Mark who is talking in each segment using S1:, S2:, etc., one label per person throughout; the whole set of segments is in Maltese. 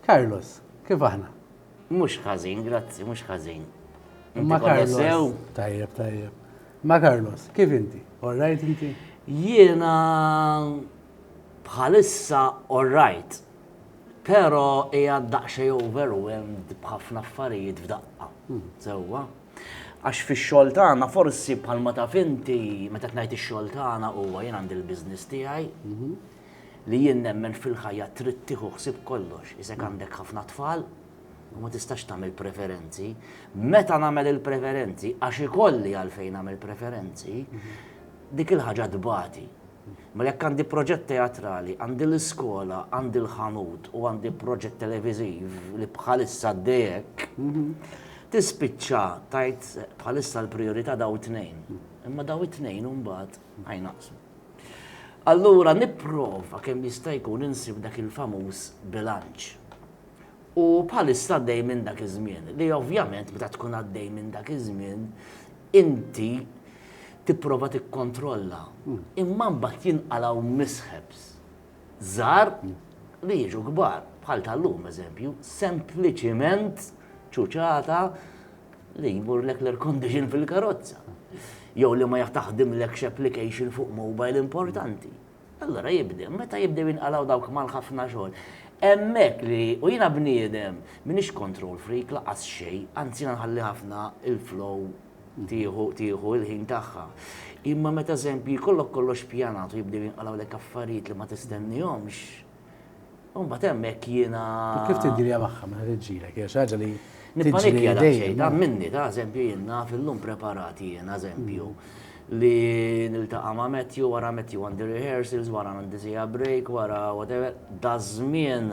S1: Carlos, kif aħna? Mhux ħażin,
S2: grazzi, mhux ħażin. Ma Carlos.
S1: Tajjeb, tajjeb. Ma Carlos, kif inti? All right inti? Jiena
S2: bħalissa all right. Pero hija daqxej overwhelmed b'ħafna affarijiet f'daqqa. Hmm. Sewwa. Għax fix-xogħol tagħna forsi bħalma ta' finti meta tnajt ix-xogħol tagħna huwa jien għandi l-business tiegħi. Mhm. li jien nemmen fil-ħajja trid tieħu ħsieb kollox, iżek għandek ħafna tfal u ma tistax tagħmel preferenzi. Meta nagħmel il-preferenzi, għax ikolli għalfejn nagħmel preferenzi, dik il-ħaġa tbati. Ma jekk għandi proġett teatrali, għandi l-iskola, għandi l-ħanut u għandi proġett televiziv li bħalissa dejek, tispiċċa tajt bħalissa l-priorità daw it-tnejn. Imma daw it-tnejn mbagħad għajnaqsu. Allura nipprova kemm jista' jkun insib dak il-famuż bilanċ. U bħalissa għaddej minn dak iż-żmien, li ovvjament meta tkun għaddej minn dak iż-żmien, inti tipprova tikkontrolla. Imma mbagħad jinqalgħu mishaps żgħar li jiġu kbar, bħal tal-lum eżempju, sempliċiment ċuċata li jmurlek l-air condition fil-karozza. Jew li ma jaħtaħdimlekx application fuq mobile importanti. Allora jibdew, meta jibdew jinqalaw dawk mal-ħafna xogħol. Emmek li, u jina bniedem, minix control freak laqas xej, anzi nħalli ħafna il-flow tieħu tieħu l-ħin tagħha. Imma meta eżempju jkollok kollox pjanat u jibdew jinqalgħulek affarijiet li ma tistennihomx, u mbagħad hemmhekk jiena. Kif tiddirja magħha
S1: meta tiġġielek? Hija xi ħaġa li Nippanikja daqsxejn,
S2: ta' minni, ta' eżempju jien naf illum preparati jien eżempju li niltaqa' ma' Matthew wara Matthew għandi rehearsals, wara għandi sija break, wara whatever, daż-żmien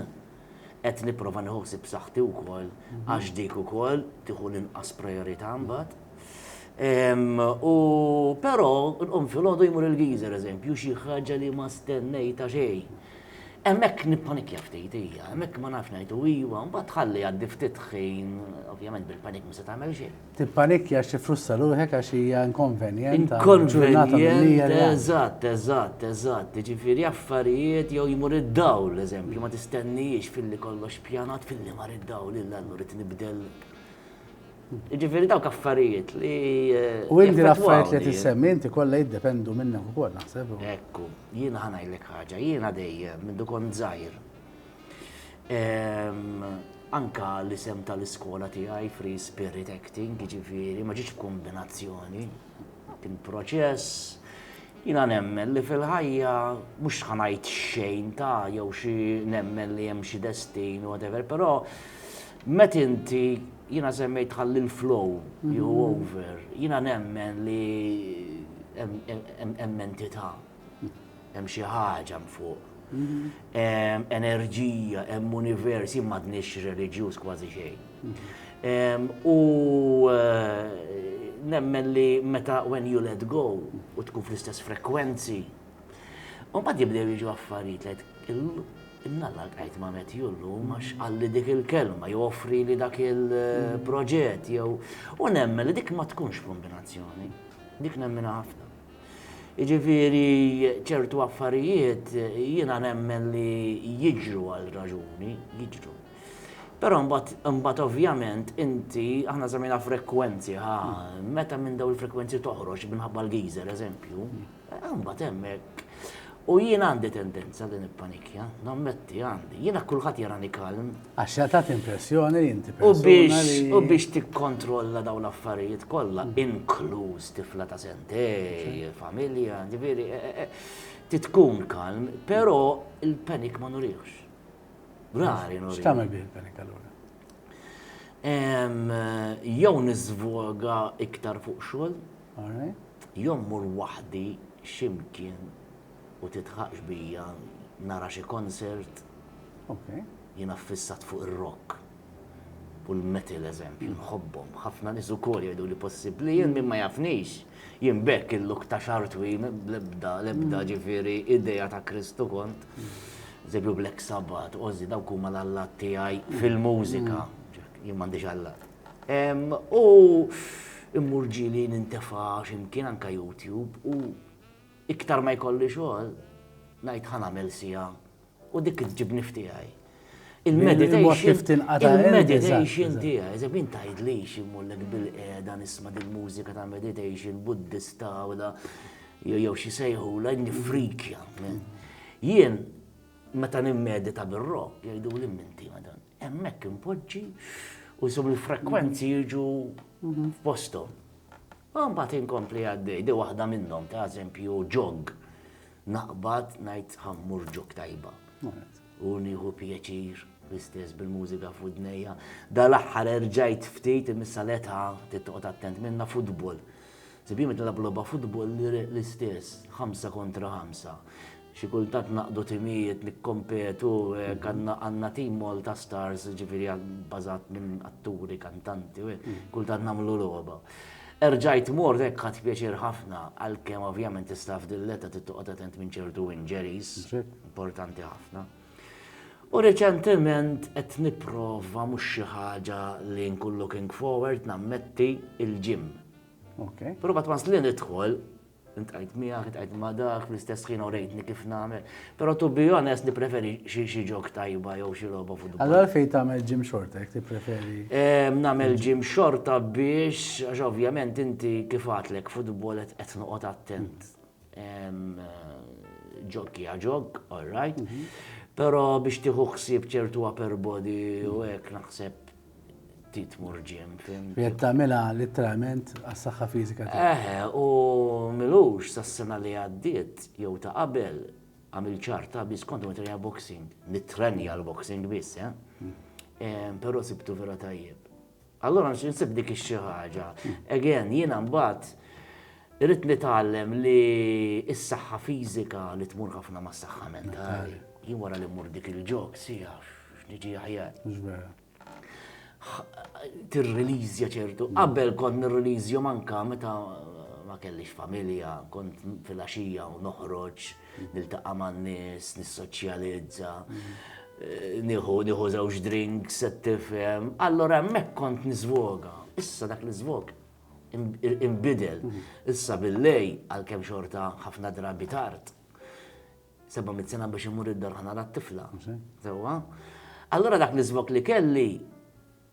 S2: Qed nipprova nieħu ħsieb saħħti wkoll għax dik ukoll tieħu l-inqas prijorità mbagħad. U però nqum filgħodu jmur il-geyser eżempju xi ħaġa li ma stennejtha xejn. Hemmhekk nippanikja ftit hija, hemmhekk ma nafx ngħid u iva, mbagħad tħalli jgħaddi ftit ħin, ovvjament bil-panic ma se tagħmel xejn. Tippanikkja għax tifrussa
S1: ruħek għax hija inkonvenjent. Inkonvenjent,
S2: eżatt, eżatt, eżatt. Ġifieri affarijiet jew jmur id-dawl, eżempju, ma tistennijiex filli kollox pjanat filli mar id-dawl illa allura rid nibdel. Ġifieri dawk affarijiet li. Eh, u inti
S1: l-affarijiet li tissemmi inti kollha jiddependu minnek ukoll naħseb. Ekku, jiena
S2: ħanajlek ħaġa, jiena dejjem minn dukon żgħir Anka l-isem tal-iskola tiegħi Free Spirit Acting, jiġifieri ma ġietx kombinazzjoni, kien proċess. Jiena nemmen li fil-ħajja mhux ħanajt xejn ta' jew xi nemmen li hemm xi destin whatever, però met inti jiena semmejt ħalli l-flow jew over, jiena nemmen li hemm entità Hemm xi ħaġa mfuq. Hemm enerġija, hemm univers, jien m'għadniex reliġjuż kważi xejn. Hemm, U eh, nemmen li meta when you let go u tkun fl-istess frekwenzi, u mbagħad jibdew jiġu affarijiet Nalla għajt ma met jullu, max għalli dik il-kelma, jew offri li dak il-proġett, jew. U nemmen li dik ma tkunx kombinazzjoni. Dik nemmena ħafna. Jiġifieri ċertu affarijiet jiena nemmen li jiġru għal raġuni, jiġru. Però mbagħad mbagħad ovvjament inti aħna semmejna frekwenzi ħa meta minn dawn il-frekwenzi toħroġ minħabba l-geyser eżempju, mbagħad hemmhekk U jien għandi tendenza li nippanikja, nammetti għandi. Jiena kulħadd jarani kalm, Għax se tagħti
S1: impressjoni li inti persuna li. U biex tikkontrolla
S2: dawn l-affarijiet kollha, mm. inkluż tifla ta' sentej, familja, ġifieri, e, e, e, titkun kalm, però il-panik ma nurihx. Rari nurihx. X'tagħmel bih il-panik allura? Jew niżvoga iktar fuq xogħol, jew mur waħdi ximkien u tidħaqx bija nara xi concert jiena ffissat fuq ir-rock u l-metal eżempju nħobbhom ħafna nies ukoll jgħiduli possibbli jien min ma jafnix jien b'hekk il-look ta' xagħar twil bl-ebda l-ebda ġifieri idea ta' Kristu kont eżempju Black Sabbath Ozzy dawk huma l-allat tiegħi fil-mużika jien m'għandix allat u mmur ġieli nintefa' xi mkien anke YouTube u Iktar ma jkolli xogħol, ngħid ħa nagħmel siegħa u dik tġibni f'tiegħi. Il-meditation il-meditation tiegħi, eżem min tgħidlix immollek bil-qiegħda nisma' din mużika ta' meditation buddista u da jew xi sejħu la nifrikja. Jien meta nimmedita bir-rock jgħidu li minti madan. Hemmhekk impoġġi u sum il-frekwenzi jiġu f'postom. U mbagħad inkompli għaddej, di waħda minnhom ta' eżempju ġog. Naqbad ngħid ħa mmur ġog tajba. U nieħu pjaċir l-istess bil-mużika f'widnejja. Dal-aħħar erġajt ftit imissa l-età titqgħod attent minna futbol. Sibjim qed nilgħabu logħba futbol l-istess, ħamsa kontra ħamsa. Xi kultant naqdu timijiet nikkompetu hekk għandna għandna tim Malta Stars ġifieri bbażat minn atturi, kantanti u hekk, kultant nagħmlu logħba. Erġajt mort hekk ħadt pjaċir ħafna għalkemm ovvjament tista' f'din l-età trid toqgħod attent minn ċertu injuries, importanti ħafna. U reċentement qed nipprova mhux xi ħaġa li nkun looking forward nammetti il-gym. Provat once li nidħol Int qajt miegħek, int qajt ma' dak, l-istess ħin orejtni kif nagħmel. Però to be honest nippreferi xi ġok tajba jew xi logħba futbol. Allora fejn tagħmel ġim
S1: xorta jekk tippreferi? Ehm, nagħmel
S2: ġim xorta biex għax ovvjament inti kif għatlek futbol qed noqgħod attent. Ehm, ġok hija ġok, all right. Mhm. Però biex tieħu ħsieb ċertu upper body u hekk naħseb ftit tmur ġim, fim. Jed tagħmilha
S1: literalment għas-saħħa fiżika tiegħek. Eħe, u
S2: milux sas-sena li għaddiet jew ta' qabel għamil ċarta biss kont nitrenja boxing, nitrenja l-boxing biss, eh? Hmm. Però sibtu vera tajjeb. Allora nsib dik xi ħaġa. Again, jiena mbagħad irrid nitgħallem li s-saħħa fiżika li tmur ħafna mas-saħħa mentali. Jien wara li mmur dik il-ġok, sieħ X'niġi aħjar. Tirrelizja ċertu. Qabel kont nirrelizja manka meta ma kellix familja, kont fil-axija u noħroġ, niltaqa' man-nies, nissoċjalizza, eh, nieħu nieħu żewġ drinks, se tifhem. Allora hemmhekk kont niżvoga. Issa dak l-iżvog imbidel. Issa bil-lej għalkemm xorta ħafna drabi tard. 700 sena biex imur id-dorħa nara t-tifla. Sewwa. Allura dak l-iżvok li kelli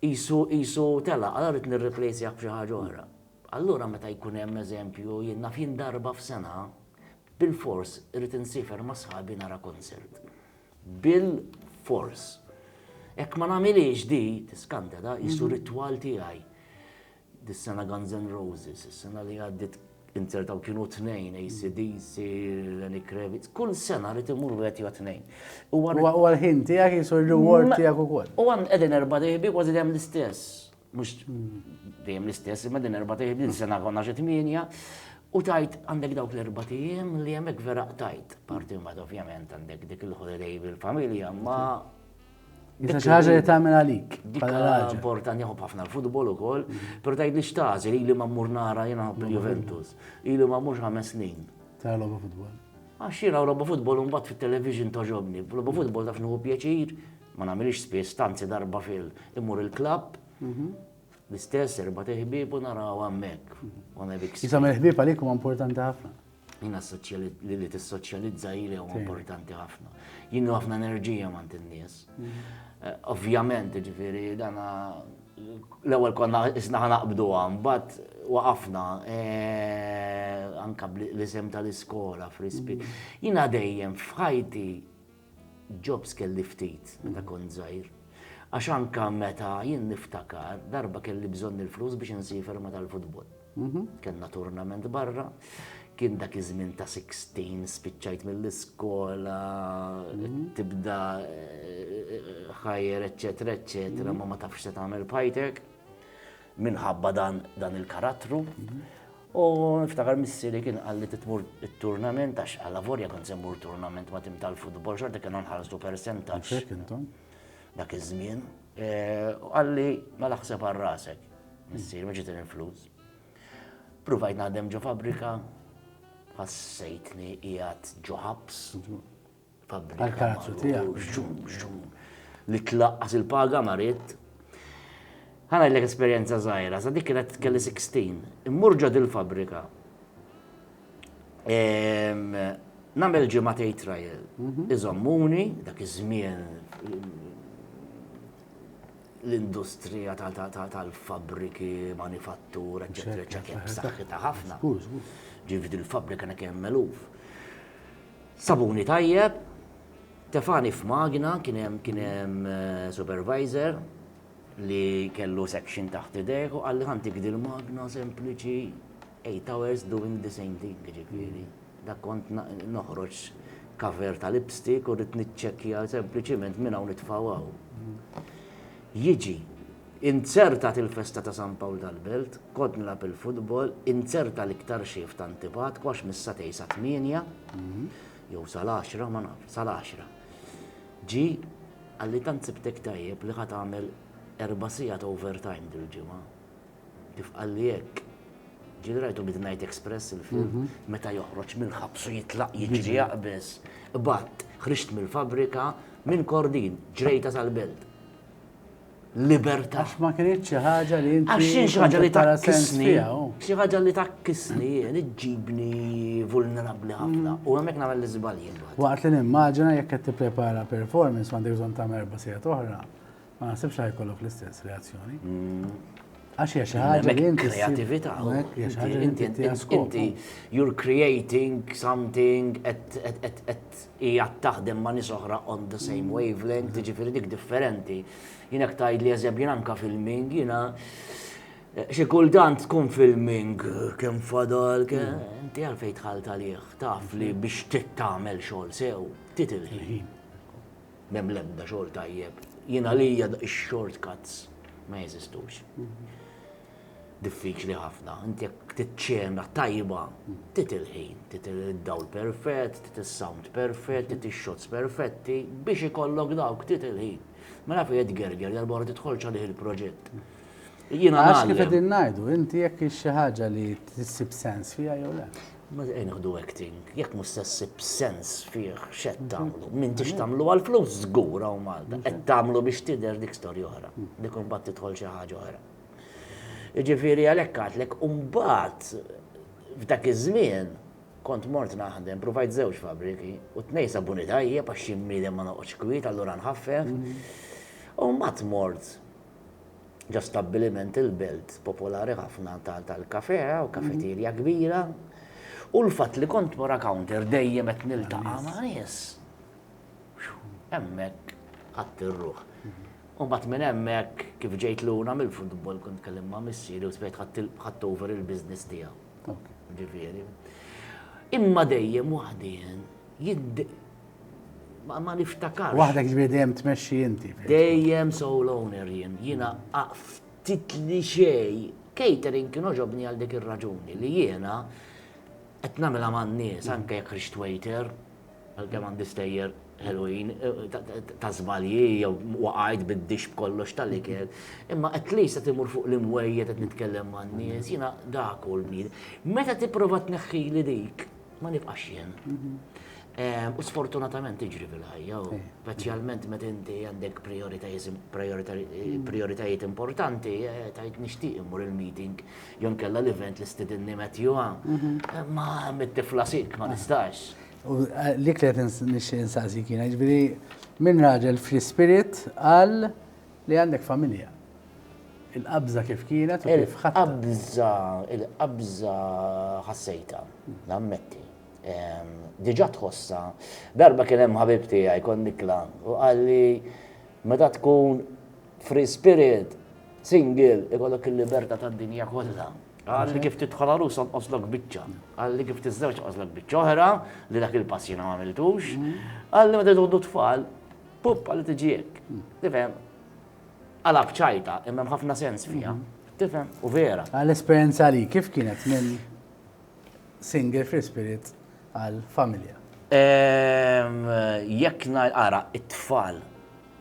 S2: isu isu tela, allura rrid nirreplacejah b'xi ħaġa oħra. Allura meta jkun hemm eżempju jien naf jien darba f'sena bil-fors irrid insifer ma' sħabi nara konsert. Bil-fors. Hekk ma nagħmilhiex di, tiskanta da, isu ritwal tiegħi. Dis-sena Guns N' Roses, is-sena li għaddiet inzertaw kienu tnejn, ACDC, Lenny Kravitz, kull sena rrit imur wieħed jew tnejn. U għal-ħin tiegħek
S1: jisu r-reward tiegħek ukoll. U għan qegħdin erba'
S2: dejbi kważi dejjem l-istess. Mhux dejjem l-istess, imma din erba' dejbi sena konna xi tmienja. U tajt għandek dawk l-erba' tiegħem li hemmhekk vera tajt. Parti mbagħad ovvjament għandek dik il-holiday bil-familja, ma Issa
S1: xi ħaġa li tagħmel għalik. Dik importanti
S2: ħobb ħafna l-futbol ukoll, però tgħid li xtażel ili ma mmur nara jiena ħobb il-Juventus. Ili ma mmurx ħames snin. Tara logħba futbol.
S1: Għax jiena logħba
S2: futbol mbagħad fit-television toġobni. Logħba futbol taf nieħu pjaċir, ma nagħmilx spiss tanzi darba fil immur il-klabb. Mhm. L-istess erba' teħbib u naraw hemmhekk. Jisam
S1: il-ħbib għalik huwa importanti ħafna. Jina
S2: li li tissoċjalizza jili u importanti ħafna. Jina ħafna enerġija mant il-nies. Mm. Eh, ovvjament, ġifiri, dana l-ewel konna isna ħanaqbdu għam, bat waqafna eh, anka l-isem tal-iskola frispi. Mm. Jina dejjem fħajti Jobs kelli ftit meta kont żgħir. Għax anke meta jien niftakar, darba kelli bżonn il-flus biex insiefer ma' tal-futbol. Kellna turnament barra, kien dak iż-żmien ta' sixteen, spiċċajt mill-iskola, tibda higher, eċċetera, eċċetera, ma ma tafx se tagħmel b'ħajtek minħabba dan il-karattru. U niftakar missieri kien qalli trid tmur it-turnament għax allavorja kont se mmur turnament ma' tim tal-futbol xorta kien nħallsu persentaġġ. Dak iż-żmien. U qalli mela ħseb għal rasek. Missieri ma ġietni l-flus. Pruvajt naħdem ġo fabbrika, ħassejtni qiegħed ġo ħabs.
S1: Għall-palazzu tiegħek. Bxum, bxum.
S2: Li tlaqqas il-paga ma ridt. Ħa ngħidlek esperjenza żgħira, sa dik kienet kelli 16. Immur ġod il-fabrika. Ehm, Namel ġimgħa tgħid trial. Mhm. Iżommuni dak iż-żmien l-industrija tal-fabriki, manifattur, eccetera, eccetera, b'saħħitha ħafna. Ġifdi l-fabrika nek hemm meluf. Sabuni tajjeb, tefagħni f'magna, kien hemm kien hemm supervisor li kellu section taħt idejh u qalli ħantik dil-magna sempliċi eight hours doing the same thing, jiġifieri dak kont noħroġ cover ta' lipstick u rrid niċċekkja sempliċiment minn hawn nitfgħu hawn. Jiġi Inzertat il-festa ta' San Pawl tal-Belt, kont nilgħab il-futbol, inzerta l-iktar xhief ta' antipatku għax mis-satej sa tmienja, jew sal-għaxra, ma nafx, sal-għaxra. Ġie, qalli tant sibtek tajjeb li ħa tagħmel erba' sigħat overtime dil-ġimgħa. Kif qalli hekk, ġieli rajtu Midnight Express il-film, meta joħroġ mill-ħabs u jitlaq jiġri jaqbeż, qbadt, ħriġt mill-fabbrika, minn Kordin, ġrejta sal-Belt. libertà. Għax ma kienx
S1: xi ħaġa li inti. Għax xi ħaġa li
S2: takkisni. Xi ħaġa li takkisni jien iġġibni vulnerabbli ħafna mm. u hemmhekk nagħmel l-iżbalji. Waqt li nimmaġina
S1: jekk qed tipprepara performance għandek bżonn ta' merba sija oħra, ma nasibx ħajkollok l-istess reazzjoni. Mm. Għax hija xi ħaġa li inti kreatività.
S2: Inti inti you're creating something at hi għad taħdem ma' nies oħra on the same wavelength, jiġifieri dik differenti. Jien hekk tgħidli eżempju jien anke filming, jiena xi kultant tkun filming kemm fadal inti għalfejn dħalt għalih, taf li biex tagħmel xogħol sew, titil ħin. Mem l-ebda xogħol tajjeb. Jien għalija x-shortcuts ma jeżistux. diffiċli ħafna. Inti jekk tiċċena tajba, trid il-ħin, trid id-dawl perfett, trid is-sound perfett, trid ix-shots perfetti, biex ikollok dawk trid il-ħin. Ma naf jgħid gerger darba oħra tidħolx għalih il-proġett. Jiena Għax
S1: kif qegħdin ngħidu, inti jekk hix xi ħaġa li tissib sens fiha jew le. Ma nħdu
S2: acting, jekk mhux se ssib sens fih x'qed tagħmlu. Min tix tagħmlu għal flus żgur hawn Malta, qed tagħmlu biex tidher dik storja oħra. Dik imbagħad tidħol xi ħaġa oħra. Jiġifieri għalhekk għedtlek u mbagħad f'dak iż-żmien kont mort naħdem, pruvajt żewġ fabbriki u t-tnejn sabuni tajjeb għax xi bniedem ma noqgħodx kwiet allura nħaffef. U mbagħad mort ġo stabbiliment il-belt popolari ħafna tal-kafè u kafeterja kbira u l-fatt li kont wara counter dejjem qed niltaqa' ma' nies. Hemmhekk qatt ir-ruħ. U mbagħad minn hemmhekk kif ġejt lura mill-futbol kont tkellimt ma' missieri u spiegħt ħadt over il-business tiegħu. Ġifieri. Imma dejjem waħdi jien ma niftakar. Waħdek ġifieri dejjem
S1: tmexxi inti. Dejjem sole
S2: owner jien. Jiena ftit li xej catering kien oġobni għal dik ir-raġuni li jiena qed nagħmilha man-nies anke jekk ħriġt waiter Għalkemm għandi stejjer ħelwin ta' żbalji jew waqajt bid-dixx b'kollox tal-ikel, imma at least qed imur fuq l-imwejjed qed nitkellem man-nies, jiena dak hu l-kbir. Meta tipprova tneħħili dik, ma nibqax jien. U sfortunatament tiġri fil-ħajja, speċjalment meta inti għandek prijoritajiet importanti, tgħid nixtieq immur il-meeting jew inkella l-event li stidinni Matthew, imma mit-tifla sick ma nistax. U dik
S1: li qed nixtieq insaqsik jiena, jiġifieri min raġel fl-ispirit qal li għandek familja. Il-qabża kif kienet u kif ħadd. Il-qabża, il-qabża
S2: ħassejta, nammetti. Diġà tħossha. Darba kien hemm ħabib tiegħi kon nikla u qalli meta tkun free spirit, single, ikollok il-libertà tad-dinja kollha. Qal li kif tidħol għarus onqoslok biċċa. Qal li kif tiżżewġ onqoslok biċċa oħra, li dak il-pass jiena ma għamiltux. Qal li meta jgħodu tfal, puppa li tiġi hekk. Tifhem? Għala bċajta, imma hemm ħafna sens fiha. Tifhem? U vera. Għal esperjenza li kif
S1: kienet minn single free spirit għal familja? Ehm,
S2: jekk nara it-tfal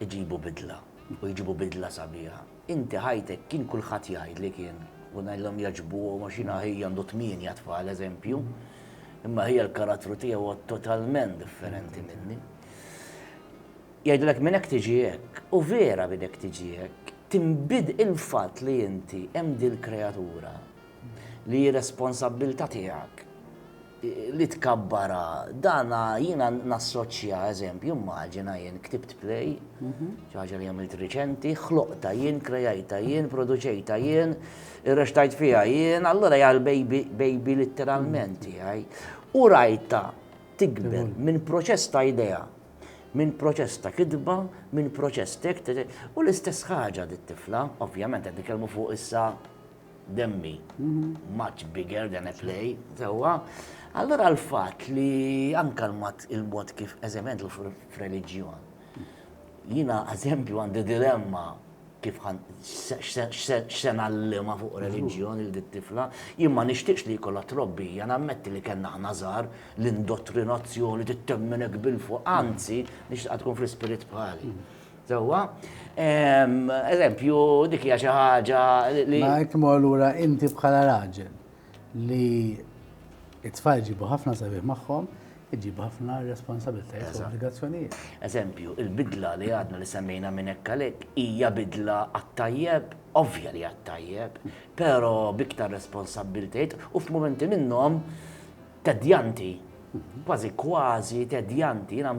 S2: iġibu bidla u jġibu bidla sabiħa. Inti ħajtek kien kulħadd jgħidli kien u ngħidilhom jogħġbuhom għax jiena ħija għandu tmienja tfal eżempju, imma ħija l-karattru tiegħu huwa totalment differenti minni. Jgħidulek minn hekk tiġi hekk, u vera minn hekk tiġi hekk, tinbid il-fatt li inti hemm dil-kreatura li hi responsabbiltà tiegħek. li tkabbarha. Dan jiena nassoċja, eżempju, immaġina jien ktibt play, xi ħaġa li għamilt riċenti, ħloqtha jien, krejajtha jien, produċejtha jien, irrexxtajt fiha jien, allura hija l-baby litteralment tiegħi. U rajtha tikber minn proċess ta' idea, minn proċess ta' kitba, minn proċess ta' u l-istess ħaġa dit-tifla, ovvjament qed nitkellmu fuq issa demmi much bigger than a play, sewwa. Allura l-fatt li anka l-mod kif eżempjament f'reliġjon. Jiena eżempju għandi dilemma kif x'se ngħallimha fuq reliġjon lil dit-tifla, jien ma nixtieqx li jkollha trobbija, nammetti li kellna aħna żgħar l-indottrinazzjoni tittemminek bil-fuq, anzi nixtieqha tkun fl-ispirit bħali. Sewwa. Eżempju, dik hija xi ħaġa li. Ma hekk imur lura
S1: inti bħala raġel li it-tfal ġibu ħafna sabiħ magħhom, iġibu ħafna responsabilitajiet u obbligazzjonijiet. Eżempju, il-bidla
S2: li għadna li semmejna minn hekk għalhekk hija bidla għat-tajjeb, ovvja li għat-tajjeb, però biktar responsabilitajiet u f'mumenti minnhom Tedjanti, kważi kważi tedjanti, jina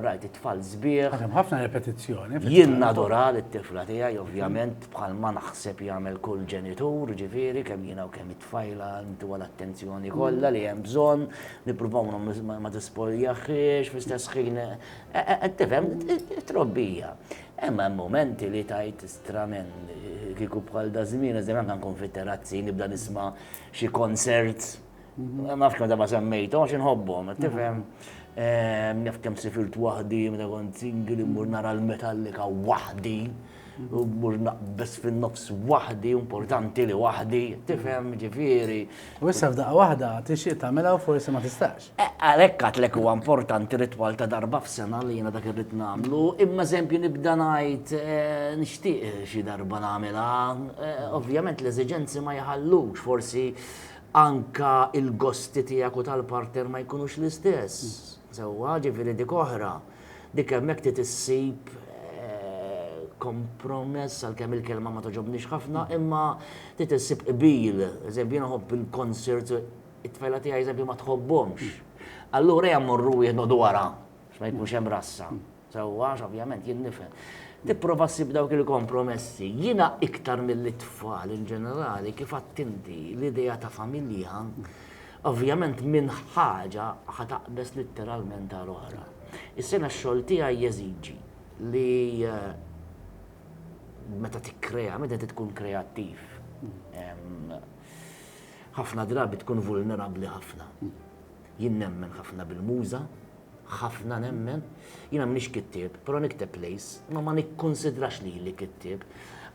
S2: rajt it-tfal zbieħ. Għadem ħafna repetizzjoni.
S1: Jien nadora
S2: l-tifla tijaj, ovvjament, bħal ma naħseb jagħmel kull ġenitur, ġifiri, kemm jina u kemm it-tfajla ntu għal-attenzjoni kollha li hemm bżonn, nippruvaw ma tispoljaħiex, fl-istess ħin, e, e, e, qed tifhem, trobbija. Emma momenti li tajt stramen, kiku bħal da zmin, eżem għankan kun fit-terazzi, nibda nisma xi konsert, Nafx kemm daba semmejtu, għax inħobbhom, tifhem. Naf kemm sifilt waħdi, meta kont singli, mmur nara l-metallika waħdi, u mmur naqbes fin-nofs waħdi, importanti li waħdi, tifhem, ġifieri. U issa f'daqqa
S1: waħda tixtieq tagħmilha u forsi ma tistax. Eh, għalhekk għatlek huwa
S2: importanti ritwal ta' darba f'sena li jiena dak irrid nagħmlu, imma eżempju nibda ngħid eh, nixtieq xi darba nagħmilha. Eh, ovvjament l-eżiġenzi ma jħallux, forsi anke l-gosti tiegħek u tal-partner ma jkunux l-istess, sewwa, ġifieri dik oħra. Dik hemmhekk trid issib kompromess, għalkemm il-kelma ma togħġobnix ħafna, imma trid issib qbil. Eżempju, jiena nħobb il-concerts, it-tfajla tiegħi eżempju ma tħobbhomx. Allura jew mmorru wieħed noqogħdu wara biex ma jkunx hemm rassa. Sewwa għax ovvjament jien nifhem. Tipprova ssib dawk il-kompromessi. Jiena iktar mill-itfal in ġenerali kif għadt inti l-idea ta' familja ovvjament minn ħaġa ħa taqbeż litteralment għal oħra. Is-sena x-xogħol tiegħi jeżiġi li eh, meta tikkrea, meta tkun kreattiv, ħafna drabi tkun vulnerabbli ħafna. Jien nemmen ħafna bil-muża, ħafna nemmen. Jiena m'iniex kittieb, però nikteb plays, imma ma nikkunsidrax lili kittieb.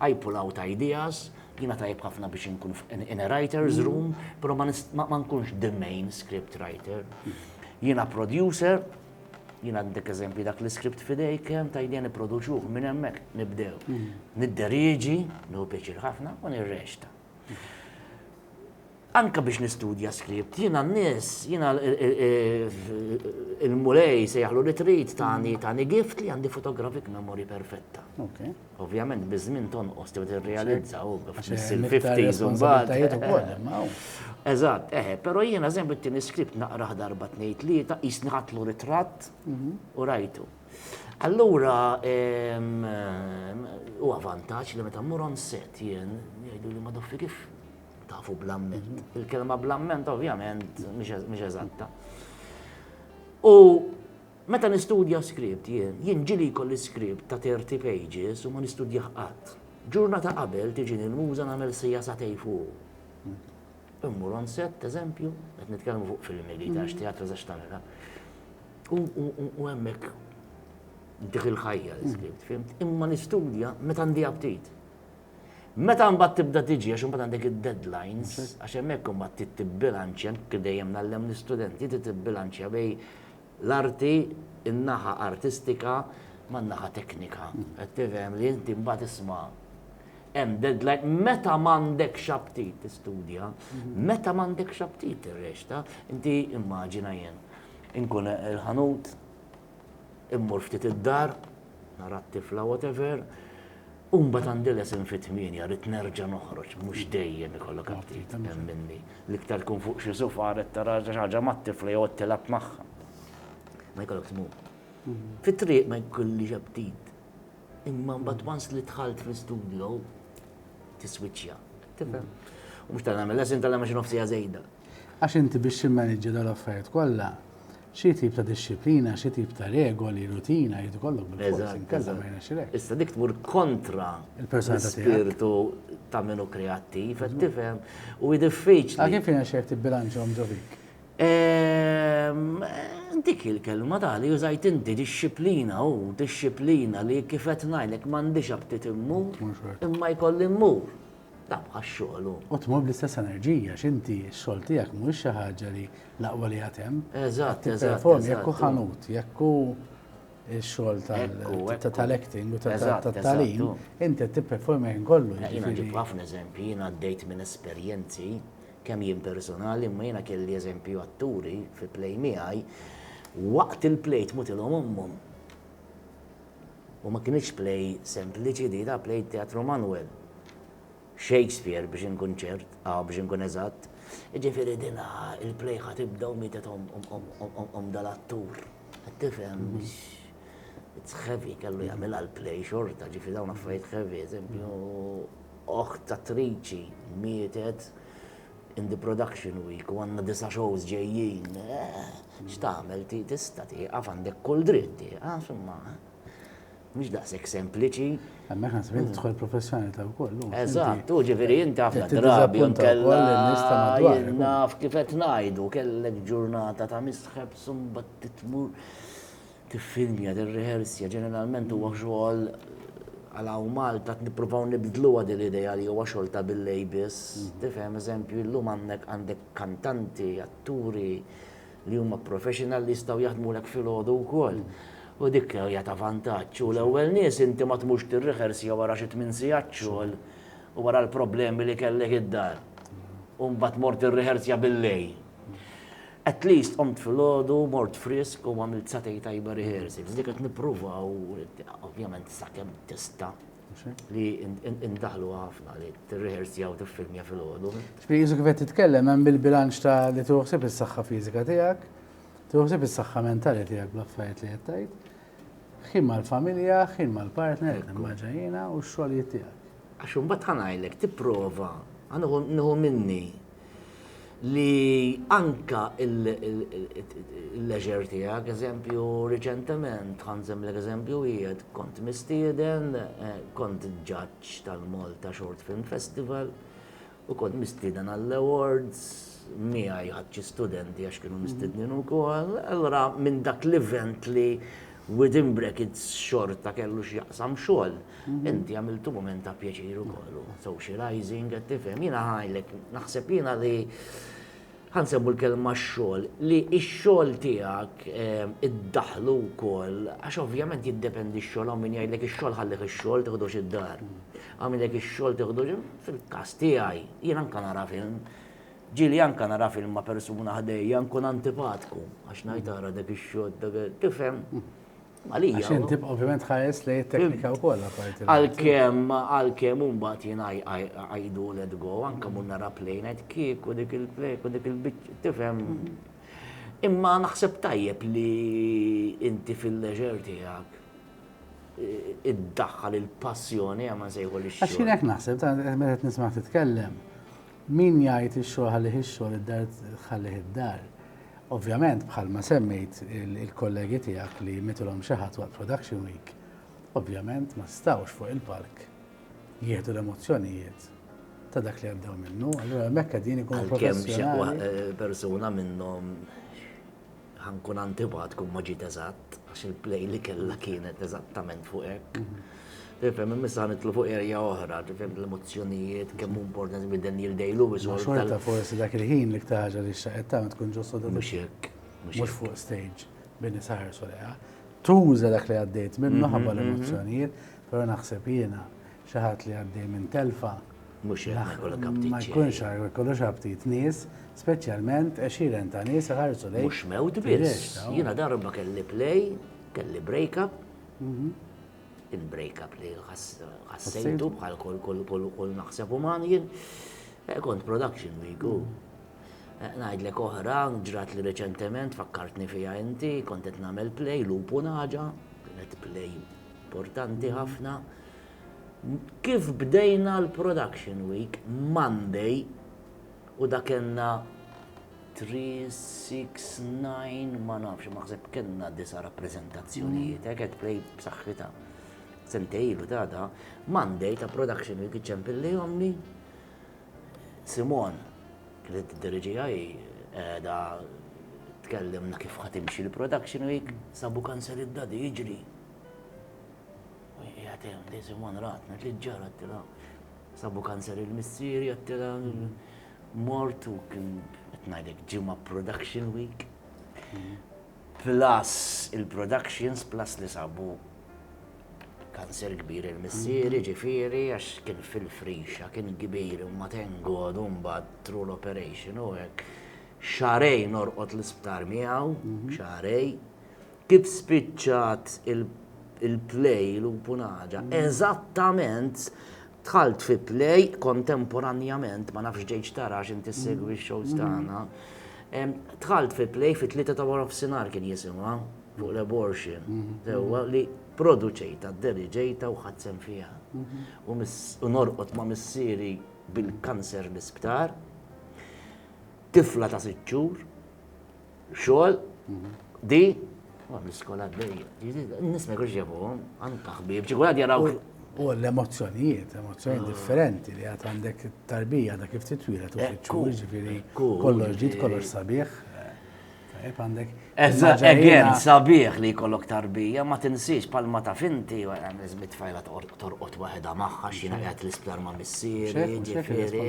S2: I pull out ideas, jiena tajjeb ħafna biex inkun in a writer's room, però ma nkunx the main script writer. Jiena producer, jiena għandek eżempju dak l-iskript f'idejk kemm ta' idea nipproduċuh minn hemmhekk nibdew. Nidderieġi, nieħu pjaċir ħafna u nirrexta. anka biex nistudja skript, jina n-nis, jina il-mulej se jaħlu li trit tani tani gift li għandi fotografik memory perfetta. Ovvijament, bizmin ton ost li t-realizza u fil-50s un bad. Eżat, eħe, pero jina zembi t-tini skript naqraħ darba t-nejt li ta' jisnħatlu ritrat mhm. u rajtu. Allura huwa vantaġġ li meta mmur on set jien jgħidu li ma doffi kif tafu blamment. Il-kelma blamment ovvjament mhix eżatta. U meta nistudja skript jien, jien ġili jkolli skript ta' 30 pages u ma nistudjah qatt. Ġurnata qabel tiġini l-muża nagħmel sija satej fuq. Immur on set, eżempju, qed nitkellmu fuq filmi li għax teatru zax tagħmilha. U hemmhekk dik il-ħajja li skript, fimt? Imma nistudja meta għandi aptit. Meta mbagħad tibda tiġi għax imbagħad għandek id-deadlines, għax hemmhekk imbagħad titbilanċja kif dejjem nallem l-istudenti titbilanċja bej l-arti, in-naħa artistika man-naħa teknika. Qed tifhem li inti mbagħad isma' hemm deadline meta m'għandekx aptit tistudja, meta m'għandekx aptit tirrexta, inti immaġina jien inkun il-ħanut immur ftit id-dar, nara t-tifla whatever, U mbagħad għandi lesson fit-tmienja, rrid nerġa' noħroġ, mhux dejjem ikollok aptit, hemm minni. L-iktar tkun fuq xi sufa qed tara xi ħaġa mat-tifla jew qed tilgħab magħha. Ma jkollokx tmur. Fit-triq ma jkollix aptit. Imma mbagħad once li dħalt fl-istudio, tiswiċċja. Tifhem? U mhux ta' nagħmel lesson tal-għamel xi nofsiegħa żejda. Għax inti biex
S1: timmaniġġja dawn l-affarijiet kollha, Xi tip ta' dixxiplina, xi tip ta' regoli, rutina jrid ikollok bil-fors, inkella ma jirnexxilekx. Issa dik tmur
S2: kontra l-ispirtu ta' min hu kreattiv, qed tifhem, u hi diffiċli. Għal kif jirnexxilek
S1: tibbilanċhom ġo fik?
S2: Dik il-kelma ta' li użajt inti, dixxiplina, hu dixxiplina li kif qed ngħidlek m'għandix aptit immur, imma jkolli mmur. Tagħmlu għax-xogħol u. U tmur bl-istess
S1: enerġija għax inti x-xogħol tiegħek mhuwiex xi ħaġa li l-aqwa li għad hemm. Eżatt, eżatt.
S2: Jekk hu
S1: ħanut, jekk hu il-xogħol tal-acting u tal-talim, inti tipperform jien kollu. Jiena ġib ħafna eżempji,
S2: jiena għaddejt minn esperjenzi kemm jien personali, imma jiena kelli eżempju atturi fi play miegħi, waqt il-play tmutilhom ommhom. U ma kinitx play sempliċi di, da play Teatru Manwel. Shakespeare biex inkun ċert, ah biex inkun eżatt. Jiġifieri din il-play ħa tibda u mietet omm dal-attur. Qed tifhem? It's heavy, kellu jagħmilha l-play xorta, ġifieri dawn affarijiet heavy. Eżempju, oħt attriċi mietet in the production week u għandna disa' shows ġejjin, x'tagħmel tista' tieqaf għandek kull dritt tieqaf imma mhix daqshekk sempliċi. Hemmhekk naħseb li
S1: tidħol professjonalità wkoll. Eżatt, u ġifieri
S2: inti ħafna drabi nkella naf kif qed ngħidu kellek ġurnata ta' misħeb sumbat titmur. Tiffilmja, tirriħersja, ġeneralment huwa xogħol għal hawn Malta qed nippruvaw nibdluha din l-idea li huwa xogħol ta' billejl biss. Tifhem, eżempju, illum hawnhekk għandek kantanti, atturi li huma professional li jistgħu jaħdmulek filgħodu wkoll. U dik hija ta' vantaġġ. U l-ewwel nies inti ma tmurx tirriħersja wara xi tmien sigħat xogħol u wara l-problemi li kellek id-dar u mbagħad mort tirriħersja billejl. At least qomt filgħodu, mort frisk u għamilt sagħtejn tajba rehearsals. Dik qed nippruvaw, ovvjament sakemm tista' li indaħlu ħafna li tirrehearsja u tiffilmja filgħodu. X'pejjiżu kif qed
S1: titkellem hemm il-bilanċ ta' li tieħu ħsieb is-saħħa fiżika tiegħek, tieħu ħsieb is-saħħa mentali tiegħek bl-affarijiet li qed tgħid, ħin mal-familja, ħin mal-partner, immaġa jiena, u x-xogħlijiet tiegħek. Għax imbagħad ħa ngħidlek,
S2: tipprova, ħa nieħu minni li anke il-leisure tiegħek, eżempju, riċentement, ħa nżemmlek eżempju wieħed, kont mistieden, kont ġaġġ tal-Malta Short Film Festival, U kont mistieden għall-awards, miegħi ħadt xi studenti għax kienu mistednin ukoll. Allura minn dak l-event li within brackets xorta kellu x'jaqsam xogħol, inti għamiltu mument ta' pjaċir ukoll, socializing, qed tifhem. Jiena ngħidlek, naħseb jiena li Ħa nsemmu l-kelma x-xogħol, li x-xogħol tiegħek iddaħħlu wkoll, għax ovvjament jiddependi x-xogħol, hawn min jgħidlek ix-xogħol ħallih ix-xogħol tiħdux id-dar. Hawn min jgħidlek ix-xogħol tiħdux, fil-każ tiegħi, jien anke nara film, ġieli anke nara film ma' persuna ħdejja nkun antipatku għax ngħid ara dak ix-xogħol, tifhem? Malija. Għax
S1: inti ovvjament ħares li teknika u kolla parti. Għal-kem, għal-kem
S2: umbat jien għajdu let go, anka mun nara plejn għed kik u dik il-plejk u dik il-bicċ, tifem. Imma naħseb tajjeb li inti fil-leġer tijak id-daħħal il-passjoni għamma sejħu li xie. Għax jien naħseb, ta'
S1: meta nismak titkellem, Min jgħid ix-xogħol ħallih ix-xogħol, id-dar ħallih id-dar. Ovvjament, bħalma semmejt, il-kollegi tiegħek li jmitilhom xi ħadd waqt production week, ovvjament ma setgħux fuq il-palk jieħdu l-emozzjonijiet ta' dak li għaddew minnu, allura hemmhekk qegħdin ikunu professjonali. Għalkemm xi persuna
S2: minnhom Ħa nkun antipat kun ma ġiet eżatt, għax il-play li kellha kienet eżattament fuq hekk. Tifhem, imissa nitlu fuq erja oħra, tifhem l-emozzjonijiet, kemm importanti minn Daniel Day-Lewis. Xorta forsi dak
S1: il-ħin li ktaħġa li xaqet ta' tkun ġustu da' mux jekk.
S2: Mux fuq
S1: stage bini saħar soleja. Tuża dak li għaddejt minnu ħabba l-emozzjonijiet, pero naħseb jiena Xi ħadd li għaddej minn telfa ma
S2: jkunx jkollux
S1: aptit nies, speċjalment għexieren ta' nies iħarsu lejk. Mhux mewt biss.
S2: Jiena darba kelli play, kelli break-up, kien break-up li ħassejtu bħal kull naħseb uman jien. Kont production week u ngħidlek oħra ġrat li reċentement fakkartni fiha inti, kont qed nagħmel play, Lupu Naġa, kienet play importanti ħafna. Kif bdejna l-production week Monday u da kellna three, six, nine, ma nafx, naħseb kellna disa' rappreżentazzjonijiet, hekk qed play b'saħħitha. Sentej ilu ta' da, Monday ta' production week iċċempil li omni. Simon, li t-dirġi għaj, da tkellimna kif ħatimxi l-production week, sabu kanzeli d-dadi jiġri. Qiegħed hemm Daisy One ratna li ġġar għattilha. Sabu kanser il-missieri għattilha mort u kien qed ngħidlek ġimgħa production week. Plus il-productions plus li sabu kanser kbir il-missieri ġifieri għax kien fil-frixa kien kbir u ma tengodu mbagħad tru l-operation u hekk. Xarejn orqod l-isptar miegħu, xarejn. Kif spiċċat il-play Lupunaġa? Eżattament dħalt fi play kontemporanjament, ma nafx ġejtx tara għax inti ssegwi x-shows tagħna, dħalt fi play fit-tlieta ta' warofsinhar kien jisimha, fuq l-abortion, sewwa, li produċejtha, deriġejtha u ħadt sehem fiha. U norqod ma' missieri bil-kanser l-isptar, tifla ta' sitt xhur, Xogħol, di, ma bl-iskola għaddejja. Nisma kux ġabuhom, anka ħbib, ġigwad jaraw. U
S1: l-emozzjonijiet, emozzjoni differenti li għat għandek tarbija da kif titwila tu fitxu, ġifiri, kollox ġit, kollox sabiħ. Tajb għandek. Eżatt,
S2: sabiħ li kollok tarbija, ma tinsiex palma ta' finti, għan izmit fajla ta' torqod waħedha magħha x'jiena qiegħed l-isptar ma' missieri, ġifieri,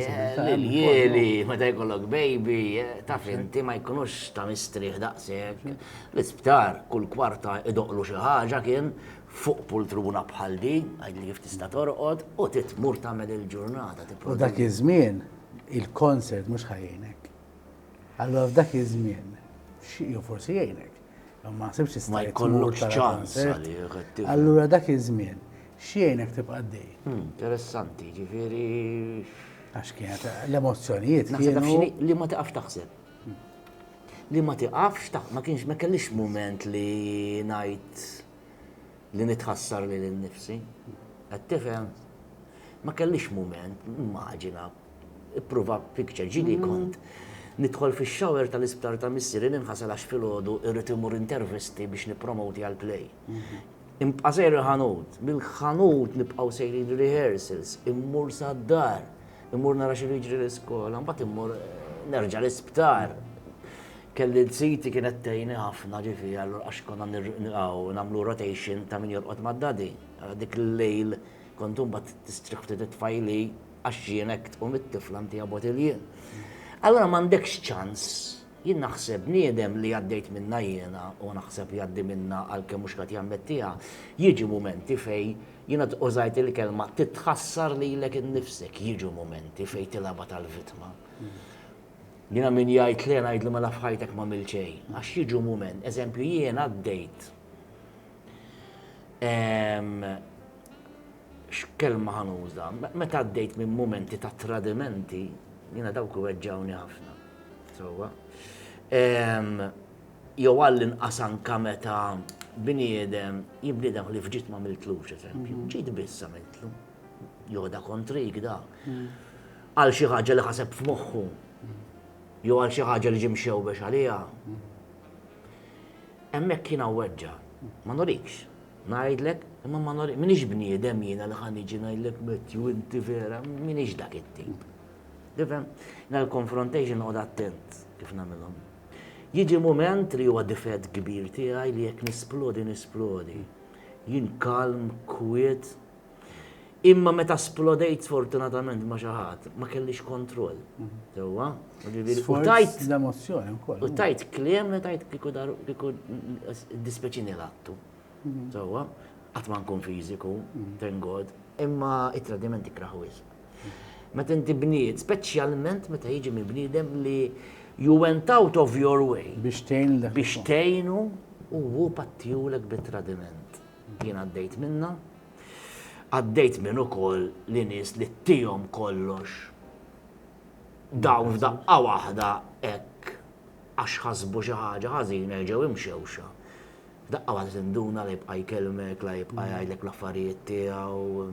S2: l-jieli, meta jkollok baby, eh, taf inti ma jkunux ta' mistrieħ daqshekk. L-isptar kull kwarta idoqlu xi ħaġa kien fuq pultruna bħal di, għajli kif tista' torqod, u titmur tagħmel il-ġurnata. U dak iż-żmien,
S1: il-konsert mhux ħajjnek. Allora f'dak iż-żmien, xieqju forsi jgħinek. Ma ħsibx tista' ma jkollokx
S2: ċans Allura
S1: dak iż-żmien x'jgħinek tibqa' dej. Hmm, interessanti,
S2: ġifieri. Għax
S1: kienet l-emozzjonijiet kienu. Li
S2: ma tiqafx taħseb. Hmm. Li ma tiqafx taħseb, ma kienx ma kellix mument li ngħid li nitħassar li l-nifsi. Qed tifhem? Ma kellix mument, immaġina, Ipprova picture, ġieli kont nidħol fix-shower tal-isptar ta' missieri ninħasel għax filgħodu irrid immur intervisti biex nippromoti għal play. Inbqa' sejr il-ħanut, mill-ħanut nibqgħu sejrin rehearsals, immur sad-dar, immur nara x'ilu jiġri l-iskola, mbagħad immur nerġa' l-isptar. Kelli l-siti kienet tgħinni ħafna ġifieri allura għax konna nilqgħu nagħmlu rotation ta' min jorqod mad-daddy. Dik il-lejl kont imbagħad tistrieħ ftit it-tfajli għax jien hekk tqum it-tifla ntiha botilje. Allura m'għandekx ċans, jien naħseb bniedem li għaddejt minnha jiena u naħseb jgħaddi minnha għalkemm mhux qed jammettiha, jiġu mumenti fej, jiena użajt il-kelma titħassar lilek innifsek, jiġu mumenti fej tilgħabha tal-vittma. Jiena min jgħid le ngħidlu mela f'ħajtek m'għamil xejn, għax jiġu mument, eżempju jien għaddejt ehm, X'kelma ħa nuża? Meta għaddejt minn mumenti ta' tradimenti, jiena dawk iweġġgħuni ħafna. Sewwa. Jew għall-inqas anka meta bniedem, jien bniedem ħlief ġid ma miltlux eżempju, ġid biss għamiltlu. Joda kontrik da. Għal xi ħaġa li ħaseb f'moħħu. Jew għal xi ħaġa li ġim xewbex għaliha. Hemmhekk jiena weġġa, ma nurikx. Ngħidlek, imma ma nor, minix bniedem jiena li ħa niġi ngħidlek Matthew inti vera, minix dak it-tip. Tifhem? Na l-confrontation noqgħod attent kif nagħmilhom. Jiġi mument li huwa difett kbir tiegħi li jekk nisplodi nisplodi. Jien kalm, kwiet, Imma meta splodejt sfortunatament ma' xi ħadd, ma kellix kontroll. Sewwa? Tajt
S1: l-emozzjoni wkoll. U tajt kliem li
S2: tajt kieku dar kieku dispeċini l-attu. Mhm. Sewwa? Qatt ma nkun fiżiku, mhm. thank God, imma it-tradiment ikraħ wisq. Meta inti bniet, speċjalment meta jiġi minn bniedem li you went out of your way. Biex tgħinu. Biex tgħinu u hu pattijulek bit-tradiment. Jien għaddejt minnha. Għaddejt minn ukoll li nies li tihom kollox dawn f'daqqa waħda hekk għax ħasbu xi ħaġa ħażina jerġgħu imxewxa. F'daqqa waħda tinduna la jibqa' jkellmek, la jibqa' jgħidlek l-affarijiet tiegħu.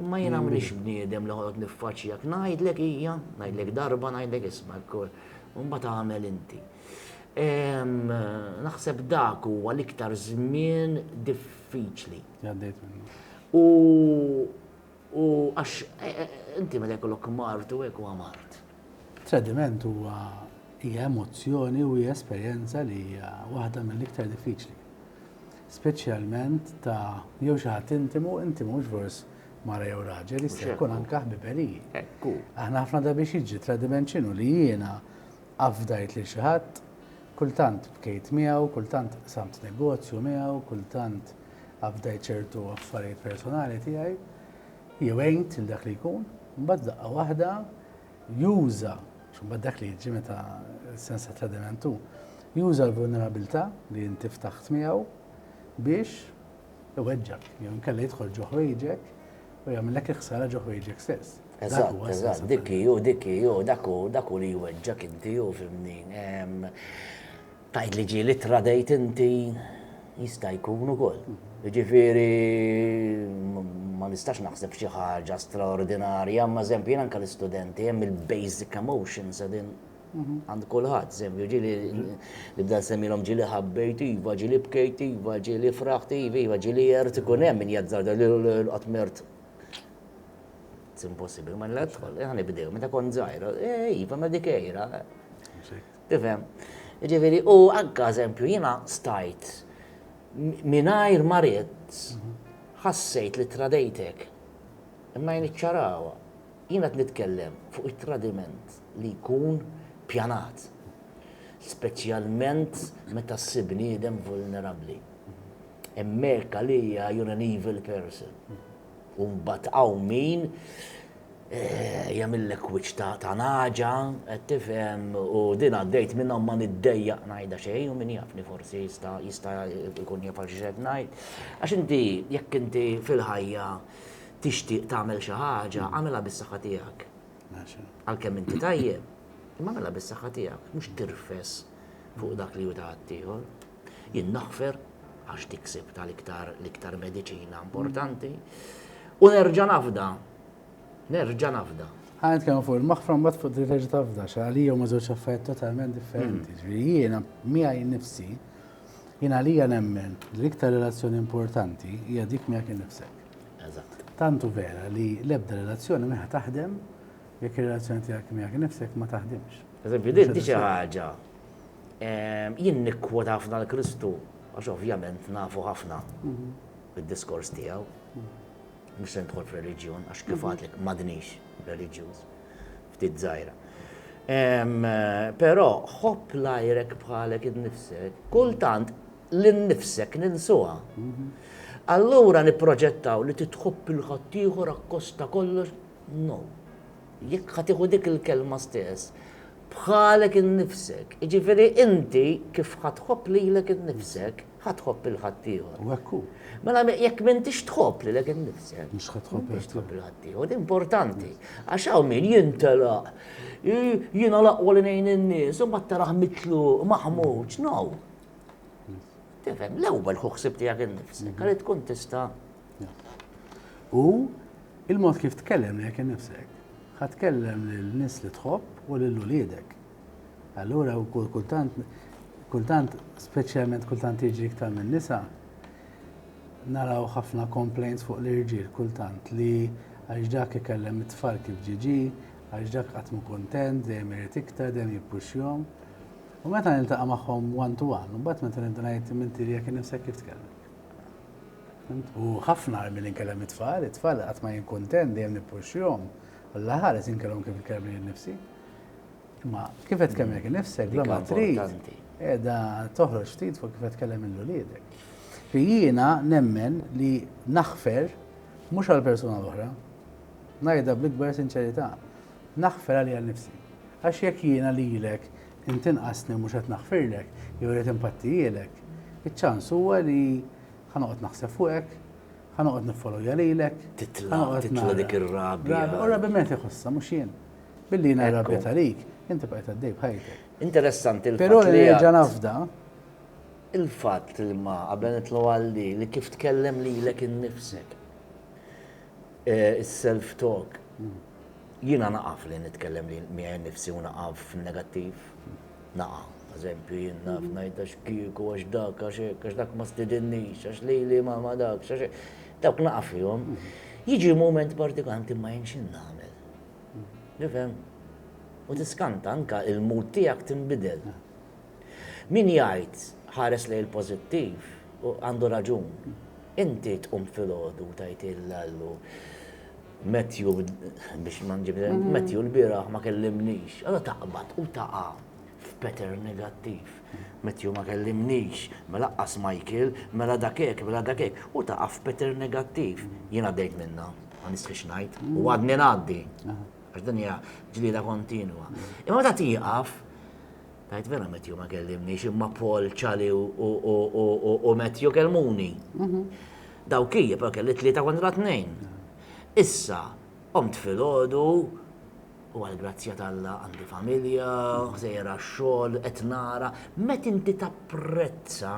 S2: Imma jiena m'iniex mm. bniedem li ħolot niffaċċjak, ngħidlek hija, ngħidlek darba, ngħidlek isma' l-kol, mbagħad għamel inti. Naħseb dak huwa l-iktar żmien diffiċli.
S1: U
S2: u għax e, e, inti meta jkollok mart u hekk huwa mart. Tradiment
S1: huwa hija emozzjoni u hija esperjenza li hija waħda mill-iktar diffiċli. Speċjalment ta' jew xi ħadd intimu, intimu mhux fors mara jew raġel, jista' jkun anke ħbiberiji. Aħna
S2: ħafna da biex
S1: jiġi tradiment x'inhu li jiena afdajt lil xi ħadd, kultant bkejt miegħu, kultant qsamt negozju miegħu, kultant afdajt ċertu affarijiet personali tiegħi. jew għejd lil dak li jkun, mbagħad daqqa waħda juża, mbagħad dak li jiġi meta sens ta' tradiment hu, juża l-vulnerabilità li inti ftaħt miegħu biex iweġġak, jew inkella jidħol ġo ħwejġek u jagħmillek il-ħsara ġo ħwejġek stess.
S2: Eżatt, eżatt, dik hi, dik hi, dak hu, dak hu li jweġġak inti, hu fimni. Tgħid li ġieli tradejt inti jista' jkun ukoll. Jiġifieri ma nistax naħseb xi ħaġa straordinarja, imma eżempju jien anke l-istudenti hemm il-basic emotions qegħdin mhm. għand kulħadd, eżempju ġieli nibda nsemmilhom ġieli ħabbejt iva, ġieli bkejt iva, ġieli fraħt iva, iva ġieli jert ikun hemm min jazzar qatt mert impossibbli, ma nidħol, ħanibdew, meta kont żgħira, eh, iva ma dikejra. Tifhem? Jiġifieri u anke eżempju jiena stajt mingħajr ma ridt ħassejt li tradejtek. Imma jien iċċarawha. Jien qed nitkellem fuq it-tradiment li jkun pjanat. Speċjalment meta ssib bniedem vulnerabbli. Hemmhekk għalija you're an evil person. U mbagħad hawn min jagħmillek wiċċ ta' ta' naġa, qed tifhem, u din għaddejt minnhom ma niddejjaq ngħidha xejn u min jafni forsi jista' jista' jkun jaf għal xi qed ngħid. Għax inti jekk inti fil-ħajja tixtieq tagħmel xi ħaġa, għamilha bis-saħħa tiegħek. Għalkemm inti tajjeb, imma għamilha bis-saħħa tiegħek, mhux tirfes fuq dak li hu ta' ħaddieħor. Jien naħfer għax dik sibtha l-iktar l-iktar mediċina importanti. U nerġa' nafda. Nerġa' nafda.
S1: Ħa nitkellmu fuq il-maħfra mbagħad fuq li terġa' tafda x'għalija huma żewġ affarijiet totalment differenti. Mm. Ġifieri jiena miegħi nnifsi jien għalija nemmen li l-iktar relazzjoni importanti hija dik miegħek innifsek. Eżatt. Tantu
S2: vera li
S1: l-ebda relazzjoni meħa taħdem jekk ir-relazzjoni tiegħek miegħek innifsek ma taħdimx. Eżempju, din xi
S2: ħaġa Jien nikkwota ħafna l Kristu għax ovvjament nafu ħafna bid-diskors tiegħu. Mhux se nidħol f'reliġjon għax kif għadlek m'għadnix reliġjuż ftit żgħira. Però ħobb l-għajrek bħalek innifsek, kultant l-innifsek ninsuha. Mhm. Allura nipproġettaw li titħobb il-ħaddieħor akkosta kollox, no. Jekk ħa tieħu dik il-kelma stess, bħalek innifsek, jiġifieri inti kif ħa tħobb lilek innifsek, ħa tħobb lil ħaddieħor. U hekk hu.
S1: Mela jekk
S2: m'intix tħobb lilek innifsek, mhux ħa tħobb
S1: lil ħaddieħor. Din
S2: importanti. Għax hawn min jintelaq, jiena l-aqwa li ngħin in-nies, u mbagħad taraħ mitluq, maħmuġ, no. Tifhem, l-ewwel ħu ħsieb tiegħek innifsek, għalli tkun tista'
S1: U il-mod kif tkellem lejk innifsek, ħa tkellem lin-nies li tħobb u lil uliedek. Allura wkoll kultant kultant speċjalment kultant jiġri iktar minn nisa naraw ħafna complaints fuq l-irġiel kultant li għax dak ikellem it-tfal kif ġiġi, għax dak qatt mu kontent, dejjem irid iktar, dejjem jippuxxjhom. U meta niltaqa' magħhom one to one, mbagħad meta nibda ngħid minti li jekk innifsek kif tkellem. U ħafna għar milli nkellem it-tfal. It-tfal qatt ma jien kuntent, dejjem nippuxxihom. Alla ħares jien nkellmhom kif inkellem lili nnifsi. Imma kif qed tkellem lilek innifsek bla ma trid qiegħda toħroġ ftit fuq kif qed tkellem lil uliedek. Fi jiena nemmen li naħfer mhux għall-persuna l-oħra. Ngħidha bl-ikbar sinċerità. Naħfer għalija nnifsi. Għax jekk jiena lilek intinqasni u mhux qed naħfirlek jew irrid inpattihielek, iċ-ċans huwa li Ħa noqgħod naħseb fuqek, ħa noqgħod niffolowja lilek. Titla' titla'
S2: dik ir-rabja. U rabja min qed iħossha
S1: mhux jien. Billi jiena rabja talik, inti bqajt għaddej b'ħajtek. Interessanti l-fatt. Però
S2: li nerġa'
S1: nafda.
S2: Il-fatt li ma qabel nitlu għal li li kif tkellem lilek innifsek. Eh, is-self talk. Hmm. Jiena naqaf li nitkellem li miegħi nifsi u naqaf negattiv. Naqa', eżempju, jien naf ngħid għax kieku, għax dak, għax hekk, għax dak ma stidinnix, għax lili ma ma dak, għax hekk. Dawk naqa' fihom. Jiġi mument partikanti ma jien x'in nagħmel. Tifhem? U tiskanta anke il-mood tiegħek tinbidel. Min jgħid ħares lejn il-pożittiv għandu raġun. Inti tqum filgħodu u tgħid il Allu, Matthew, biex ma nġib, Matthew l-bieraħ ma kellimnix. Allora taqbad u taqa' f'pattern negattiv. Matthew ma kellimnix, ma laqqas Michael, mela dak hekk, mela dak hekk, u taqa' f'pattern negattiv. Jien għaddejt minnha, ma nistħix ngħid, u għadni ngħaddi. Għax din hija ġlieda kontinwa. Imma meta tieqaf, Ngħid vera Matthew ma kellimniex, imma Paul, Charlie u Matthew kelmuni. Mhm. Daw kija, però kelli tlieta kontra tnejn. Issa, omt fil-ħodu, u għal-grazzja tal-la għandi familja, ħsejra xol, etnara, met inti tapprezza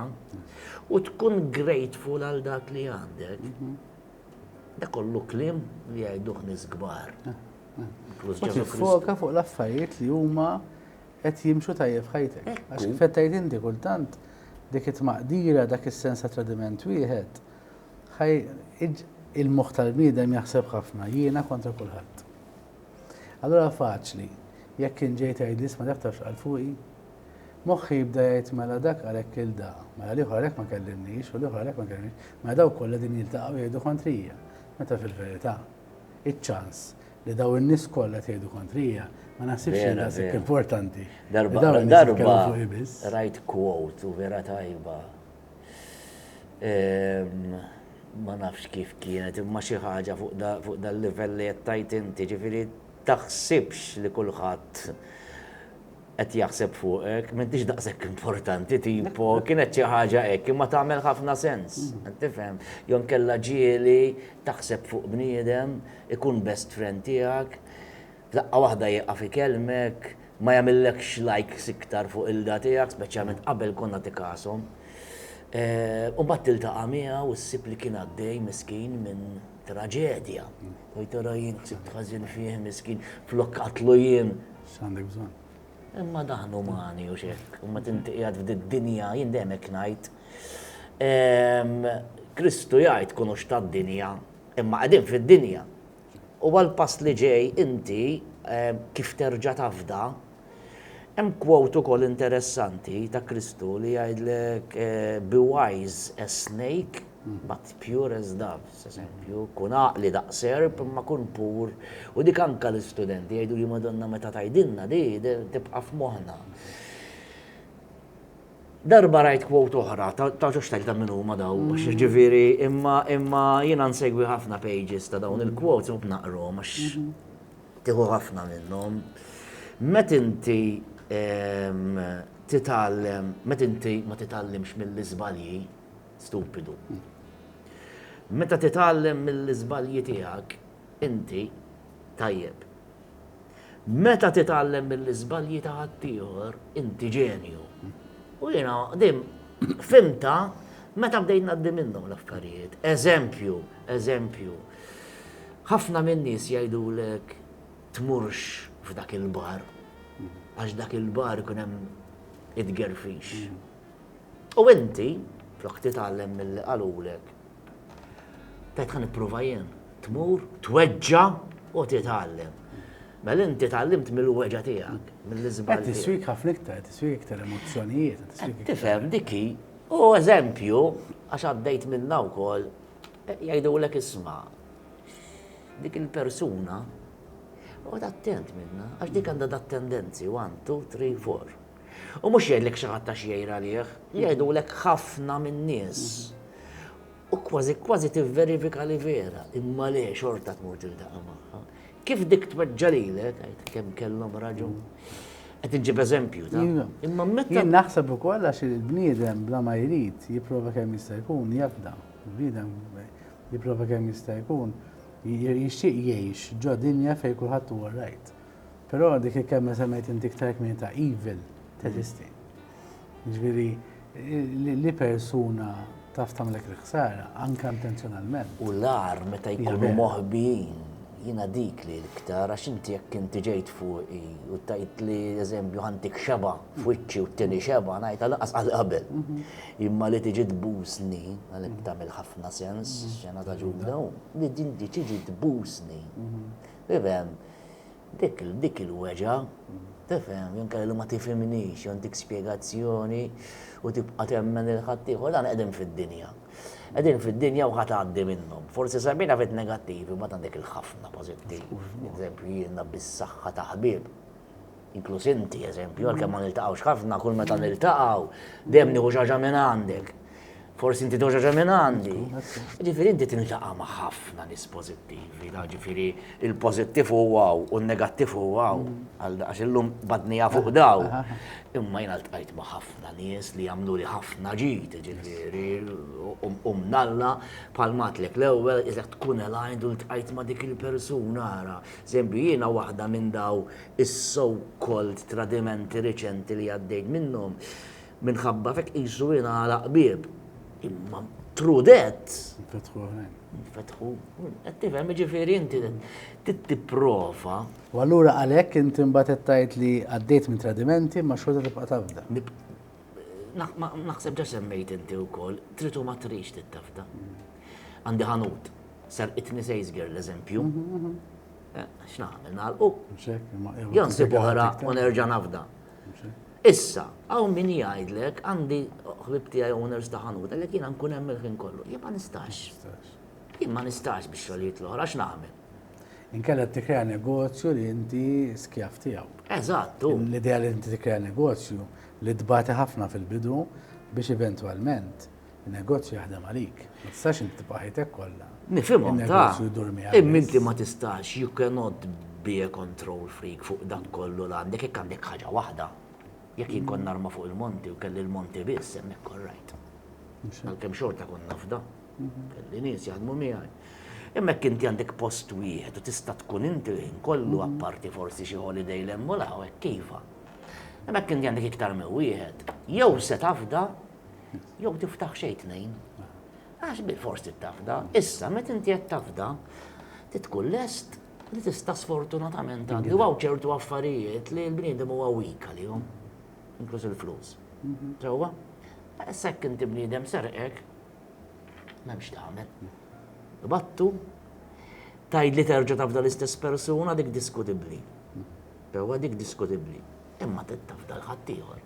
S2: u tkun grateful għal dak li għandek. Mhm. Da kollu klim li għajduħ nisgbar.
S1: Foka fuq l-affarijiet li huma qed jimxu tajjeb f'ħajtek. Għax kif qed tgħid inti kultant dik it-tmaqdira, dak is-sens ta' tradiment wieħed, ħaj il-moħħ tal-bniedem jaħseb ħafna, jiena kontra kulħadd. Allura faċli, jekk kien ġej tgħid li isma' dak tafx qal fuqi, moħħi jibda jgħid mela dak għalhekk il da, mela l-ieħor għalhekk ma kellimniex u l-ieħor għalhekk ma kellimniex, mela dawk kollha din jiltaqgħu jgħidu kontrija, meta fil-verità iċ-ċans Li dawn in-nies kollha qed jgħidu kontrija, ma naħsibx li daqshekk importanti. Darba darba
S2: rajt quote u vera tajba. Ehm, ma nafx kif kienet, imma xi ħaġa fuq dal-livell li qed tajt inti, ġifieri taħsibx li kulħadd Qed jaħseb fuqek, m'intix daqshekk importanti tipo, kienet xi ħaġa hekk, imma tagħmel ħafna sens, qed tifhem? Jew inkella ġieli taħseb fuq bniedem, ikun best friend tiegħek, f'daqqa waħda jieqaf ikellmek, ma jagħmillekx likes iktar fuq ilda tiegħek, speċjalment qabel konna tikashom. U mbagħad tiltaqa' miegħu u ssib li kien għaddej miskin minn traġedja. Tgħid ara jien ħsibt ħażin fih miskin, flok qatlu jien, X'għandek bżonn?
S1: Imma daħnu
S2: umani u xek, u ma tintiqjad f'did-dinja, jien dejjem hekk ngħid. Ehm, Kristu jgħid kunu tad-dinja, imma qegħdin fid-dinja. U għal-pass li ġej inti ehm, kif terġa' tafda, hemm kwot ukoll interessanti ta' Kristu li jgħidlek eh, be wise as snake But pure as dove, s'eżempju, kun għaqli daqs serp imma kun pur, u dik anka l-istudenti jgħiduli Madonna meta tgħidilna di tibqa' f'moħħna. Darba rajt quote oħra, tafx tajt ta' min huma daw, ġifieri imma imma jiena nsegwi ħafna pages ta' dawn il-quotes u naqrhom għax tieħu ħafna minnhom. Met inti titgħallem, met inti ma titgħallimx mill-iżbalji, stupidu. Meta titgħallem mill-iżbalji tiegħek, inti tajjeb. Meta titgħallem mill-iżbalji ta' ħaddieħor, inti ġenju. U jiena qdim fimta meta bdejt ngħaddi minnhom l-affarijiet. Eżempju, eżempju. Ħafna minn nies jgħidulek tmurx f'dak il-bar għax dak il-bar ikun hemm it-gerfix. U inti, flok titgħallem milli qalulek, tgħid ħa nipprova jien, tmur, tweġġa' u titgħallem. Mela inti tgħallimt mill-weġa' tiegħek, mill-iżball. Qed tiswik ħafna iktar,
S1: qed tiswik iktar emozzjonijiet. Tifhem dik hi.
S2: U eżempju, għax għaddejt minnha wkoll, jgħidulek isma' dik il-persuna, oqgħod attent minnha, għax dik għandha dat tendenzi, one, two, three, four. U mhux jgħidlek xi ħadd għax jgħir għalih, jgħidulek ħafna min-nies. U kważi kważi tivverifika li vera, imma le xorta tmur tiltaqa' magħha. Kif dik tweġġa' lilek, għid kemm kellhom raġun. Qed inġib eżempju ta' imma meta. Jien naħseb ukoll għax
S1: il-bniedem bla ma jrid jipprova kemm jista' jkun jafda. Il-bniedem jipprova kemm jista' jkun jixtieq jgħix ġo dinja fejn kulħadd huwa rajt. Però dik il-kelma semmejt inti iktar kmini ta' evil teżisti. Ġifieri li persuna taf tagħmlek il-ħsara anke intenzjonalment. U l-ar meta
S2: jkunu moħbijin jina dik li l-iktar, għax inti jekk inti ġejt fuqi u tajt li eżempju ħantik xeba f'wiċċi u t-tini xeba, najt għal-qas għal-qabel. Mhm. Imma li tiġi tbusni, għalek mhm. tamil ħafna sens, mhm. xena ta' ġudda, li dinti tiġi tbusni. Bibem, Dik il-weġgħa, tifhem, jew inkella li ma tifhimnix, jew ntik spjegazzjoni u tibqa' temmen lil ħaddieħor, dan qegħdin fid-dinja. Qegħdin fid-dinja u ħa tgħaddi minnhom. Forsi semmejna ftit negattivi, imbagħad għandek il-ħafna pożittivi. Eżempju, jiena bis-saħħa ta' ħbieb, inkluż inti, eżempju, għalkemm ma niltaqgħux ħafna, kull meta niltaqgħu, dejjem nieħu xi ħaġa minn għandek. Forsi inti doġa ġa minn għandi. Ġifieri inti tintaqa' ma' ħafna nies pożittivi, ġifieri il-pożittiv u għaw u n-negattiv u għaw. Mm. Għax illum badnija fuq daw. Imma jien tqajt ma' ħafna nies li jagħmlu li ħafna ġid, ġifieri u mnalla bħal matlek l-ewwel iżda tkun elajn u tqajt ma' dik il-persuna ara. Żempju jiena waħda minn daw is-so called tradimenti riċenti li għaddejt minnhom Minħabba f'hekk qisu ingħalaq bieb. Imma through that. Infetħu oħrajn. Infetħu. Qed tifhem jiġifieri inti trid tipprova. U allura
S1: għalhekk inti mbagħad qed tgħid li għaddejt minn tradimenti ma xorta tibqa' tafda. Naħseb
S2: ġa semmejt inti wkoll, trid u ma tridx tittafda. Għandi ħanut, serqitni sejs girl eżempju. Mhm, mhm. Eh, x'nagħmel nagħlqu? Jon sib oħra u nerġa' nafda. Issa, hawn min jgħidlek, għandi ħbieb tiegħi owners ta' ħanut, għalhekk jiena nkun hemm il-ħin kollu. Jien ma nistax. Jien ma nistax biex xogħlijiet l-oħra x'nagħmel. Inkella
S1: tikkrea negozju li inti skjav tiegħu. Eżatt, u. L-idea
S2: li inti tikkrea
S1: negozju li tbati ħafna fil-bidu biex eventwalment Negozju jaħdem għalik, ma tistax inti tibqa' ħajtek kollha. Nifhimhom ta',
S2: imma
S1: inti ma tistax
S2: you cannot be a control freak fuq dak kollu li għandek jekk għandek ħaġa waħda. Jekk jien kont narma fuq il-monti u kelli l-monti biss hemmhekk all right. Għalkemm xorta kont nafda. Mhm. Kelli nies jaħdmu miegħi. Imma jekk inti għandek post wieħed u tista' tkun inti l-ħin kollu mhm. apparti forsi xi holiday l-hemm u l-hawn kif. Imma jekk inti għandek iktar minn wieħed, jew se tafda Jew tiftaħ xejn tnejn. Għax bil-fors tittafda, issa meta inti qed tafda, titkun lest li tista' sfortunatament għandi u ċertu affarijiet li l-bniedem huwa wika li jom, inkluż il-flus. Mhm. Ġewwa? Sekk inti bniedem serqek, m'hemmx tagħmel. Battu, tajd li terġa' tafda l-istess persuna dik diskutibbli. Ġewwa dik diskutibbli. Imma tafda l-ħaddieħor.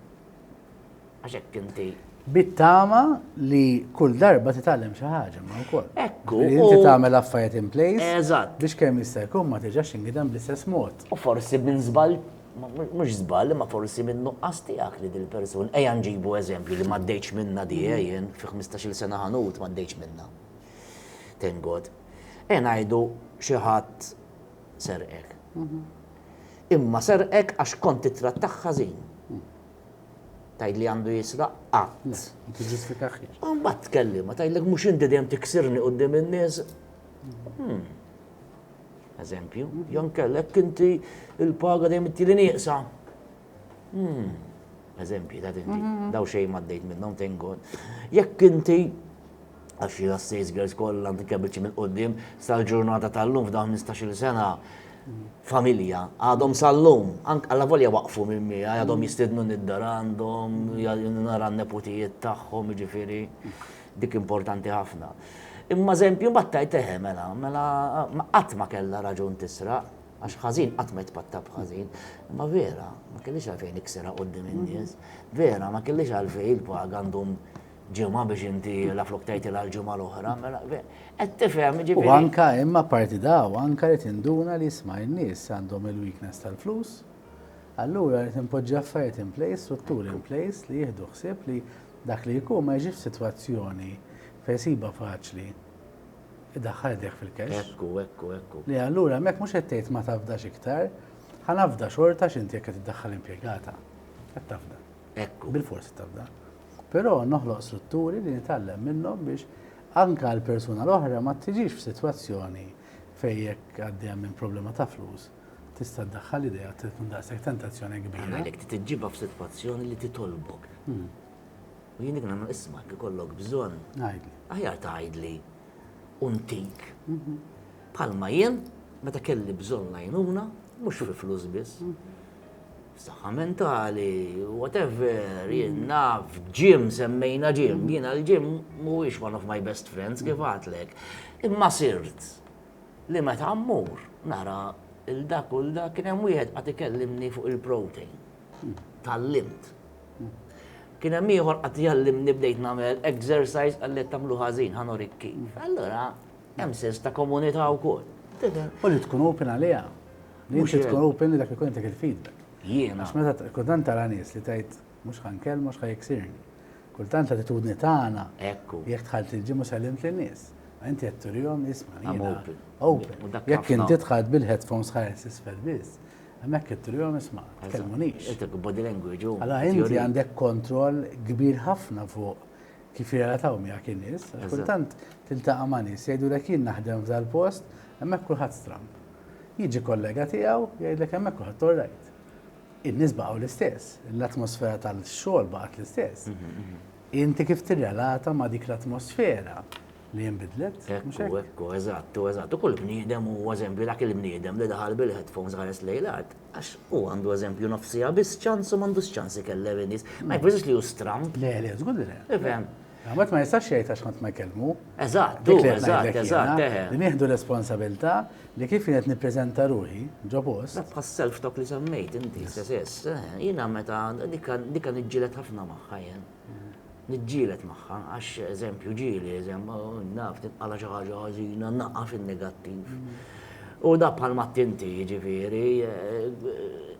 S2: għax hekk inti Bit-tama
S1: li kull darba titgħallem xi ħaġa ma wkoll. Ekku. Inti tagħmel
S2: affarijiet
S1: in place. Eżatt. Biex kemm jista'
S2: jkun ma
S1: tiġax ingidem bl-istess mod. U forsi minn żball
S2: mhux żball imma forsi minn nuqqas tiegħek li dil-persun ejja nġibu eżempju li m'għaddejtx minna di eh, jien fi 15-il sena ħanut m'għaddejtx minna. Thank God. E ngħidu xi ħadd serqek. Mhm. Imma serqek għax kont titrattaħ ħażin. Tgħidli għandu jisraq qatt. Le, ma tiġġustifikaħiex.
S1: U mbagħad tkellima,
S2: tgħidlek mhux inti dejjem tiksirni quddiem in-nies. Hmm. Eżempju, jon kellek inti il-paga dejjem inti li nieqsa. Hmm. Eżempju, ta' dinti, mhm. daw xejn ma' dejt minnhom tengod. Jekk inti għax li għas-Sales Girls kollha anke biċċi minn qudiem sal-ġurnata tal-lum f'dawn 15-il sena familja għadhom sal-lum, għalla volja waqfu minn mija, għadhom jistidnu nid-dar għandhom, nara n-neputijiet tagħhom, ġifieri dik importanti ħafna. Imma eżempju battajt eħe eh, mela, mela qatt ma kellha raġun tisra, għax ħażin qatt ma jitpatta b'ħażin, imma vera, ma kellix għalfejn iksera qudiem in-nies, vera, ma kellix għalfejn il-paga għandhom ġimgħa biex inti la flok tgħidilha l-ġimgħa l-oħra, mela qed tifhem ġifieri. U anka imma parti
S1: daw anka li tinduna li sma' n-nies għandhom il-weakness tal-flus. Allura li tinpoġġi affarijiet in place, strutturi in place li jieħdu ħsieb li dak li jkun ma jiġix f'sitwazzjoni fejn siba faċli idaħħal idejh fil-kex. Ekku, ekku, ekku. Li
S2: allura hemmhekk mhux
S1: qed tgħid ma tafdax iktar, ħa nafda xorta x'inti jekk qed iddaħħal impjegata. Qed tafda. Ekku. Bil-forsi tafda. Però noħloq
S2: strutturi
S1: li nitgħallem minnhom biex anke l-persuna l-oħra ma tiġix f'sitwazzjoni fejn jekk għaddejja minn problema ta' flus tista' ddaħħal idejha se tkun daqshekk tentazzjoni kbira. Għalhekk trid iġġibha
S2: f'sitwazzjoni li titolbok. U jien dik nagħmel isma' jekk ikollok bżonn. Għidli. Aħjar
S1: tgħidli
S2: u ntik. Bħalma jien meta kelli bżonn l-għajnuna, mhux fil-flus biss. Saħħa mentali, whatever, jien naf, ġim, semmejna ġim, jiena l-ġim mhuwiex one of my best friends kif għatlek. Imma sirt li meta mmur nara il-dak u l-dak kien hemm wieħed qed ikellimni fuq il-protein. Tallimt. Kien hemm ieħor qed jgħallimni bdejt nagħmel exercise qal li qed tagħmlu ħażin ħa nurik kif. Allura hemm sens ta' komunità wkoll. U li tkun
S1: open għaliha. Mhux tkun open dak ikun dik il-feedback. Jiena. Għax meta
S2: kultant tara
S1: nies li tgħid mhux ħan kell mhux ħajksirni. Kultant attitudni tagħna. Ekku. Jekk tħalt
S2: il-ġimgħa
S1: sellimt lin-nies. Inti qed turihom isma' jiena. Open. Open.
S2: Jekk
S1: inti tħalt bil-headphones ħares isfel biss. Hemmhekk qed turihom isma' tkellmunix. Qed body language.
S2: Alla inti għandek
S1: kontroll kbir ħafna fuq kif jirrelataw miegħek in-nies. Kultant tiltaqa' ma' nies jgħidulek jien naħdem f'dal-post hemmhekk kulħadd stramb. Jiġi kollega tiegħu jgħidlek hemmhekk kulħadd orrajt. In-nies baqgħu l-istess, l-atmosfera tal-xogħol baqgħet l-istess. Inti kif tirrelata ma' dik l-atmosfera li jinbidlet? Ekku, ekku,
S2: eżattu, eżattu. Kull bniedem u eżempju dak il-bniedem li daħal bil-headphones ħares lejn l-art, għax hu għandu eżempju nofsiha biss ċans u m'għandux ċans ikellem in-nies. Ma jfissirx li hu stramb. Le, le, żgur li le.
S1: Tifhem? Ħadd
S2: ma jistax
S1: jgħid għax ħadd ma jkellmu. Eżatt, dik li eżatt,
S2: eżatt, eħe.
S1: Li nieħdu
S2: responsabilità
S1: li kif qed nippreżenta ruħi ġo post. Bħas self tok li
S2: semmejt inti stess, jiena meta dika niġġielet ħafna magħha jien. Niġġielet magħha għax eżempju ġieli, eżempju, naf tinqala xi ħaġa ħażina, naqaf in-negattiv. U dak bħal m'għedt inti, jiġifieri,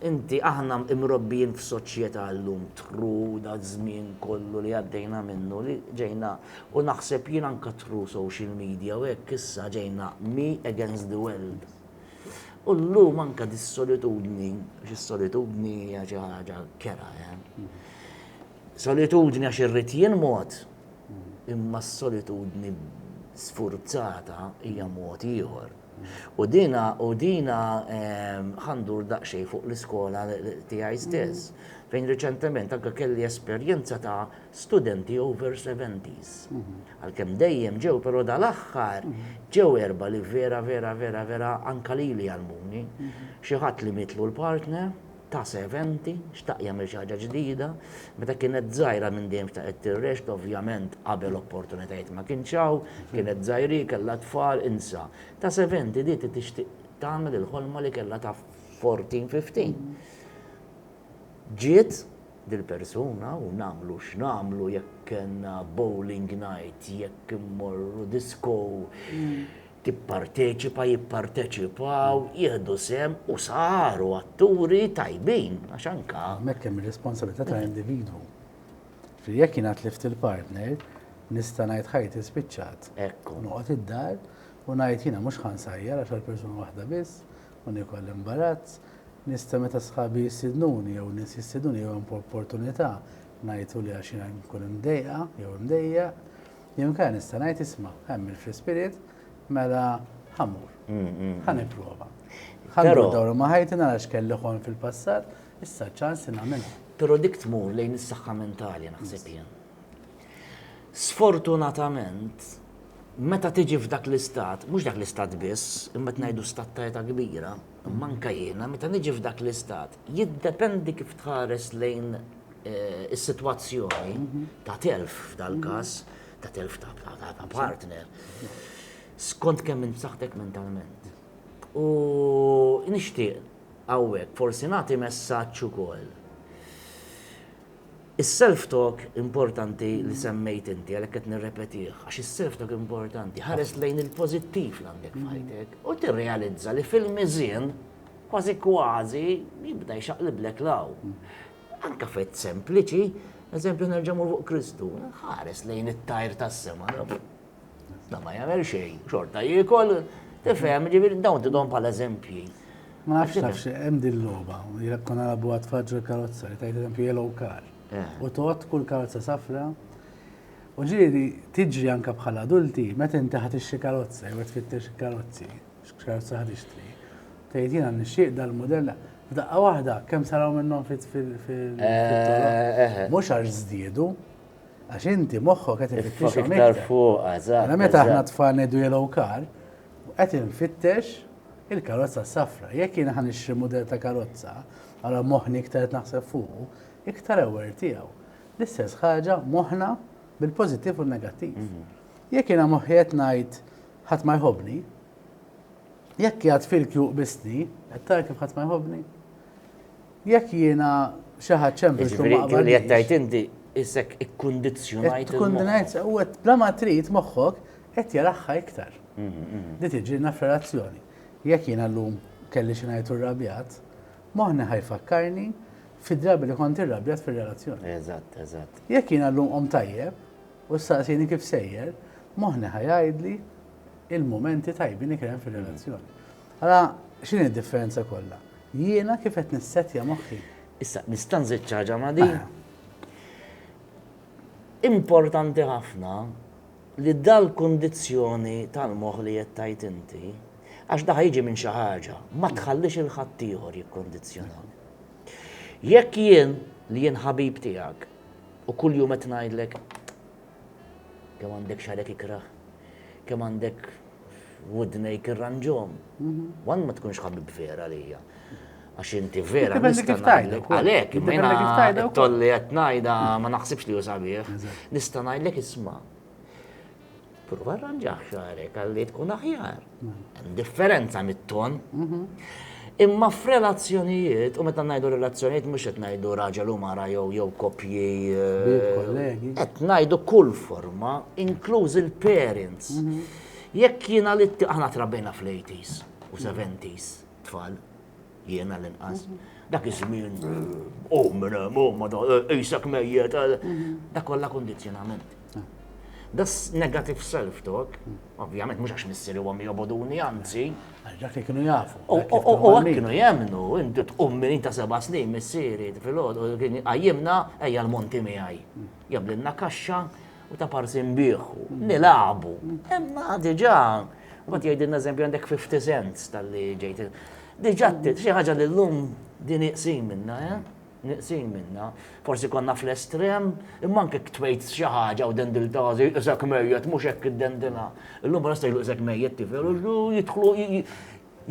S2: inti, aħna mrobbijin f'soċjetà llum tru daż-żmien kollu li għaddejna minnu li ġejna, u naħseb jien anke tru social media u hekk issa ġejna me against the world. U llum anke dis-solitudni, għax is-solitudni hija xi ħaġa kerha, eh. Solitudni għax irrid jien mod, imma s-solitudni sfurzata hija mod ieħor. U dina, u dina ehm, ħandur daqsxejn fuq l-iskola tiegħi stess, fejn riċentement anke kelli esperjenza ta' studenti over 70s. Mhm. Għalkemm dejjem ġew, però dal-aħħar mhm. ġew erba li vera, vera, vera, vera anka lili għalmuni. Mhm. Xi ħadd li mitlu l-partner, ta' serventi, xtaq jagħmel xi ħaġa ġdida. Meta kienet żgħira minn dejjem xtaqet tirrexx, ovvjament qabel opportunitajiet ma kienx hawn, kienet żgħiri, kellha tfal, insa. Ta' serventi di ti tixtieq tagħmel il-ħolma li kellha ta' fourteen, fifteen. Ġiet dil-persuna u nagħmlu x'nagħmlu jekk kellna bowling night, jekk immorru disko, tipparteċipa, jipparteċipaw, jieħdu sehem u saru atturi tajbin għax anke. Hemmhekk hemm ir-responsabilità
S1: ta' individwu. Ġifieri jekk jiena tlift il-partner, nista' ngħid ħajti spiċċat. Ekku. Noqgħod
S2: id-dar
S1: u ngħid jiena mhux ħa nsajjar għax għal persuna waħda biss u nieku l-imbarazz. Nista' meta sħabi jistidnuni jew nies jistidnuni jew hemm opportunità ngħidu li għax jiena nkun imdejqa jew imdejjaq. Jew inkella nista' ngħid isma' hemm il-fl-ispirit mela ħa mur. Mm, mm, mm. Ħa nipprova. Ħa ndur ma' ħajti nara x'kelli ħon fil-passat, issa ċans li nagħmilha. Però dik tmur
S2: lejn is-saħħa mentali naħseb jien. Sfortunatament, meta tiġi f'dak l-istat, mhux dak l-istat biss, imma ngħidu stat ta' kbira, Imma anke jiena, meta niġi f'dak l-istat, jiddependi kif tħares lejn is-sitwazzjoni ta' telf f'dal-każ, ta' telf ta' partner, skont kemm int b'saħħtek mentalment. U nixtieq hawnhekk forsi nagħti messaġġ ukoll. Is-self-talk importanti li semmejt inti, għalhekk qed nirrepetih, għax is-self-talk importanti, ħares lejn il-pożittiv li għandek f'ħajtek u tirrealizza li fil-miżien kważi kważi jibda jxaqliblek 'l hawn. Anke f'għid sempliċi, eżempju nerġa' mmur fuq Kristu, ħares lejn it-tajr tas-sema, Da ma jagħmel xejn, xorta jiekol, tifhem, ġifieri dawn tidhom bħala eżempji. Ma nafx nafx,
S1: hemm din logħba, jekk konna nabu għad faġġu l-karozza, li tajt eżempju yellow car. Eh. U tot kull karozza safra. U ġieli tiġri anka bħala adulti, meta inti ħad ixxi karozza, jew tfittex karozzi, x'karozza ħad ixtri. Tgħid jiena nixxieq dal-modell, daqqa waħda kemm saraw minnhom fit fil eh, eh, Mhux għax żdiedu, Għax inti moħħok qed ifittex iktar fuq,
S2: eżatt. Mela meta aħna tfal ngħidu
S1: yellow car, qed infittex il-karozza safra. Jekk jien ħan ixtri mudell ta' karozza, għala moħħni iktar qed naħseb fuqu, iktar aware tiegħu. L-istess ħaġa moħħna bil-pożittiv u negattiv. Mhm. Jekk jiena moħħi qed ngħid ħadd ma jħobni, jekk jgħad fil-kju qbisni, qed tara kif ħadd ma jħobni. Jekk jiena xi ħadd sempliċi u ma Jiġifieri dik li qed tgħid qbilix,
S2: inti issek ikkundizzjonajt qed tkun il-moħħ. ngħid u
S1: qed bla ma trid moħħok qed jaraħħa iktar. Li tiġilna f'relazzjoni. Jekk jiena llum kelli xi ngħid u rrabjat, moħħni ħa jfakkarni fid-drabi li kont irrabjat fir-relazzjoni. Eżatt, eżatt. Jekk
S2: jiena llum qomt
S1: tajjeb u ssaqsini kif sejjer, moħħni ħa jgħidli il-mumenti tajbin li kien hemm fir-relazzjoni. Ara x'inhi d-differenza kollha. Jiena kif qed nissettja moħħi. Issa, nista'
S2: nżid xi ħaġa ma' din? Importanti ħafna li dal-kundizzjoni tal-moħħ li qed tgħid inti, għax daħ jiġi minn xi ħaġa, ma tħallix il ħaddieħor jikkundizzjonani. Jekk jien li jien ħabib tiegħek u kuljum qed ngħidlek kemm għandek xarek ikrah, kemm għandek f'wudnejk irranġhom. Mhm. Wan ma tkunx ħabib vera lija. Għax inti vera nista' ngħidlek għalhekk, imma tolli qed ngħidha ma naħsibx li hu sabiħ. Nista' ngħidlek isma' prova rranġaħ xarek għalli tkun aħjar. Differenza mit-ton. Mhm. Imma f'relazzjonijiet, u meta ngħidu relazzjonijiet mhux qed ngħidu raġel u mara jew jew koppji. Kollegi. Qed ngħidu kull forma, inkluż il-parents. Mhm. Jekk jiena li aħna trabbejna fl-80s u 70s tfal, jiena l-inqas. Mhm. Dak iż-żmien, oh, minn hemm, oh, ma da, eh, isek mejjet, eh. mhm. dak kollha kondizzjonament. Das negative self-talk, ovvjament, mux għax missiri għom joboduni, għanzi. Għaxak li kienu
S1: jafu. U għak kienu
S2: jemnu, inti tqum minn ta' seba snin missiri, fil-ħod, u kienu għajimna, għajja l-monti mi għaj. Jablinna kaxxa, u ta' parsi mbiħu, nilabu. Emma diġa, u għat jgħidin eżempju għandek 50 cents tal-li ġejt. Diġa, xie ħagġa l-lum din iqsim minna, eh? Nieqsin minnha. Forsi konna fl-estrem, imma anke jekk tgħid xi ħaġa u dendiltha se jqisek mejjet, mhux hekk iddendilha. Illum bħalissa jgħidu qisek mejjet tifel u jidħlu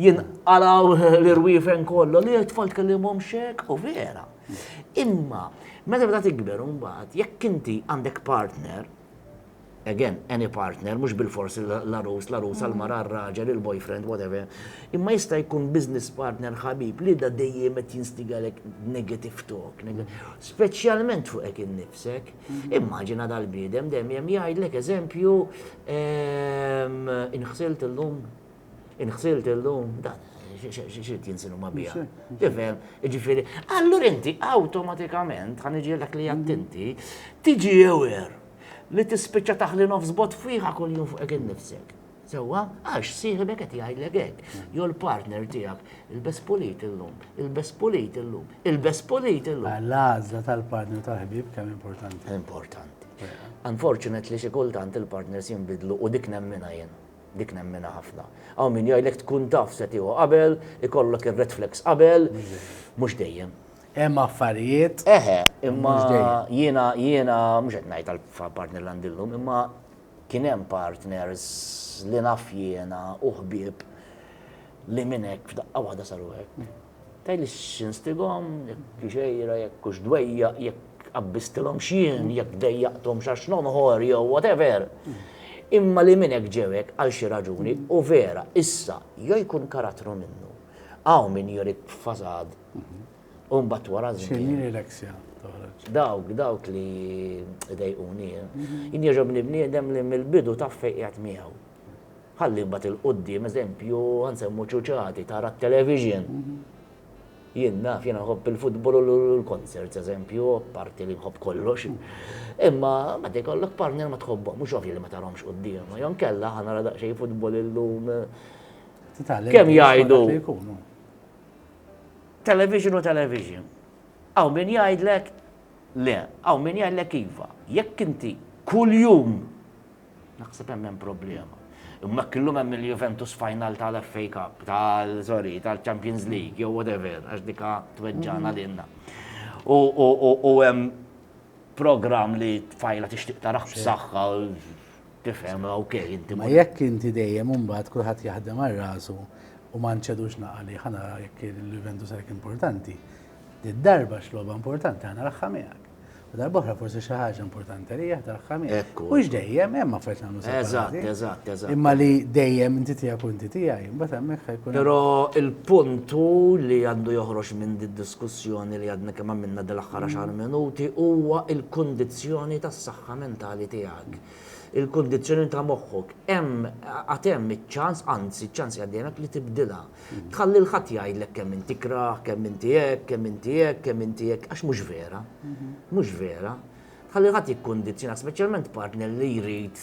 S2: jinqalgħu l-irwiefen kollha li t-tfal tkellimhomx hekk u vera. Imma meta bda tikber imbagħad jekk inti għandek partner again, any partner, mhux bilfors l-għarus, l-għarusa, l-mara, r-raġel, il-boyfriend, whatever, imma jista' jkun business partner, ħabib, li da dejjem qed jinstigalek negative talk, speċjalment fuqek innifsek. Mhm. Immaġina dal-bniedem dejjem jgħidlek eżempju ehm, inħsilt illum, inħsilt illum, dan xirrit jinsilu ma bija. Tifem, ġifiri, allur inti automatikament, ħan iġielek li jattinti, tiġi aware li tispiċċa taħli nofs bot fwiħa kuljum fuqek innifsek. Sewwa, għax sieħibek qed jgħidlek hekk, jew l-partner tiegħek, il-best pulit illum, il-best pulit illum, il-best pulit illum. Ah, l-għażla tal-partner
S1: tal-ħbib kemm importanti. Importanti.
S2: Unfortunately xi kultant il-partners jinbidlu u dik nemmina jien dik nemmina ħafna. Għaw min jgħidlek tkun taf se tiegħu qabel, ikollok ir-red flags qabel, mhux dejjem. Hemm affarijiet.
S1: Eħe, imma
S2: jiena jiena mhux qed ngħid għall-partner l-għandillum, imma kien hemm partners li naf jiena u ħbieb li minn hekk f'daqqa waħda saru hekk. Tajli x'instigom, jekk xejra, jekk hux dwejja, jekk qabbistilhom x'jien, jekk dejjaqthom x'għax nonħor jew whatever. Imma li minn hekk ġew hekk għal xi raġuni u vera issa jew jkun karattru minnu. Hawn min jorik fasad Umbat mbagħad wara żmien. X'inhi l-eleksja
S1: toħroġ? Dawk,
S2: dawk li dejquni. Mhm. Jien jogħġobni bniedem li mill-bidu taf fejn qiegħed miegħu. Ħalli mbagħad il-qudiem eżempju nsemmu ċuċati tara t-television. Mhm. Jien naf, jien nħobb il-futbol u l-konzert eżempju, parti li nħobb kollox. Mhm. Imma ma kollok partner ma tħobbhom, mhux ovvju li ma tarhomx quddiem. Jon kella ħana daqsxejn futbol illum. Kemm jgħidu? Television hu television. Hawn min jgħidlek le, hawn min jgħidlek iva. Jekk inti kuljum naħseb hemm hemm problema. Imma jekk illum hemm il-Juventus final tal-FA Cup, tal sorry, tal-Champions League, jew whatever, għax dika tweġġana lilna. U hemm program li tfajla tixtieq taraħ b'saħħa Tifhem, okej, inti. Ma jekk inti dejjem
S1: imbagħad kulħadd jaħdem għal rasu u ma nċedux naqali ħana jekk il-Juventus għalhekk importanti. Darba x'logħba importanti ħana raħħa miegħek. U darbohra forsi xi ħaġa importanti li jaħda raħħa miegħek. U dejjem hemm affarijiet nagħmlu sew. Eżatt, eżatt, eżatt. Imma
S2: li dejjem
S1: inti tiegħek u inti tiegħi, imbagħad hemmhekk ħajkun. Però il-punt
S2: hu li għandu joħroġ minn did-diskussjoni li għadna kemm għamilna dal-aħħar xahar minuti huwa l-kundizzjoni tas-saħħa mentali tiegħek. għalhekk il-kundizzjoni ta' moħħok hemm għad hemm iċ-ċans, anzi ċ-ċans jgħaddilek li tibdilha. Tħalli l ħadd jgħidlek kemm inti krah, kemm inti hekk, kemm inti hekk, kemm inti hekk, għax mhux vera. Mhux vera. Tħalli ħadd jikkundizzjonak, speċjalment partner li jrid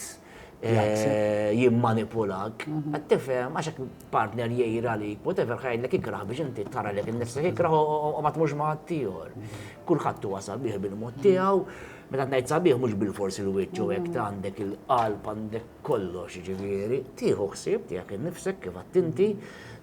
S2: eh, jimmanipulak. Mhm. Qed tifhem għax partner jgħir għalik, whatever ħajlek ikrah biex inti tara lek innifsek ikrah u ma tmux ma' ħaddieħor. Mhm. Kulħadd wasal bih bil-mod tiegħu Meta ngħid sabiħ mhux bilfors il-wiċċ u hekk għandek il-qalb għandek kollox jiġifieri tieħu ħsieb tiegħek innifsek kif għedt inti,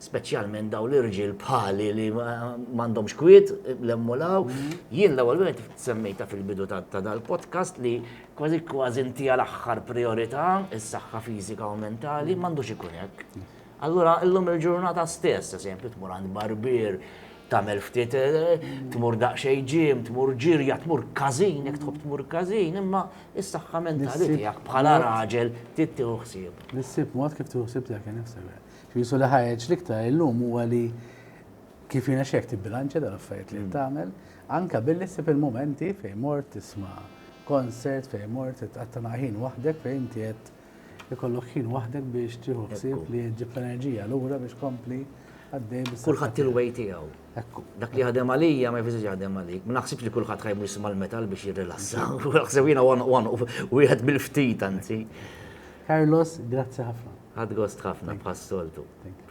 S2: speċjalment dawn l-irġiel bħali li m'għandhomx kwiet lemmu law. Mhm. Jien l-ewwel wieħed semmejta fil-bidu ta' dal-podcast li kważi kważi inti għal aħħar priorità is-saħħa fiżika u mentali m'għandux ikun hekk. Allura illum il-ġurnata stess, eżempju, tmur għand barbier, tagħmel ftit tmur daqsxejn ġim, tmur ġirja, tmur każin, jekk tħobb tmur każin, imma is-saħħa mentali tiegħek bħala raġel trid tieħu ħsieb. Nissib mod kif tieħu
S1: ħsieb tiegħek innifsek. Ġisu li ħareġ l-iktar illum huwa li kif jiena xek tibbilanċja dal-affarijiet li tagħmel, anka billi ssib il-momenti fejn mort tisma' konsert fejn mort titqatta' ħin waħdek fejn inti qed Ikollok ħin waħdek biex tieħu ħsieb li ġġib l-enerġija lura biex tkompli għaddej bis-saħħa. Kulħadd il-way tiegħu.
S2: Ekku. Dak li jaħdem għalija ma jfisirx jaħdem għalik. Ma naħsibx li kulħadd ħajmu jisimha l-metal biex jirrilassa. Naħseb jiena one one wieħed mill-ftit anzi. Carlos,
S1: grazzi
S2: ħafna.
S1: Għad gost
S2: ħafna bħas-soltu. Thank you.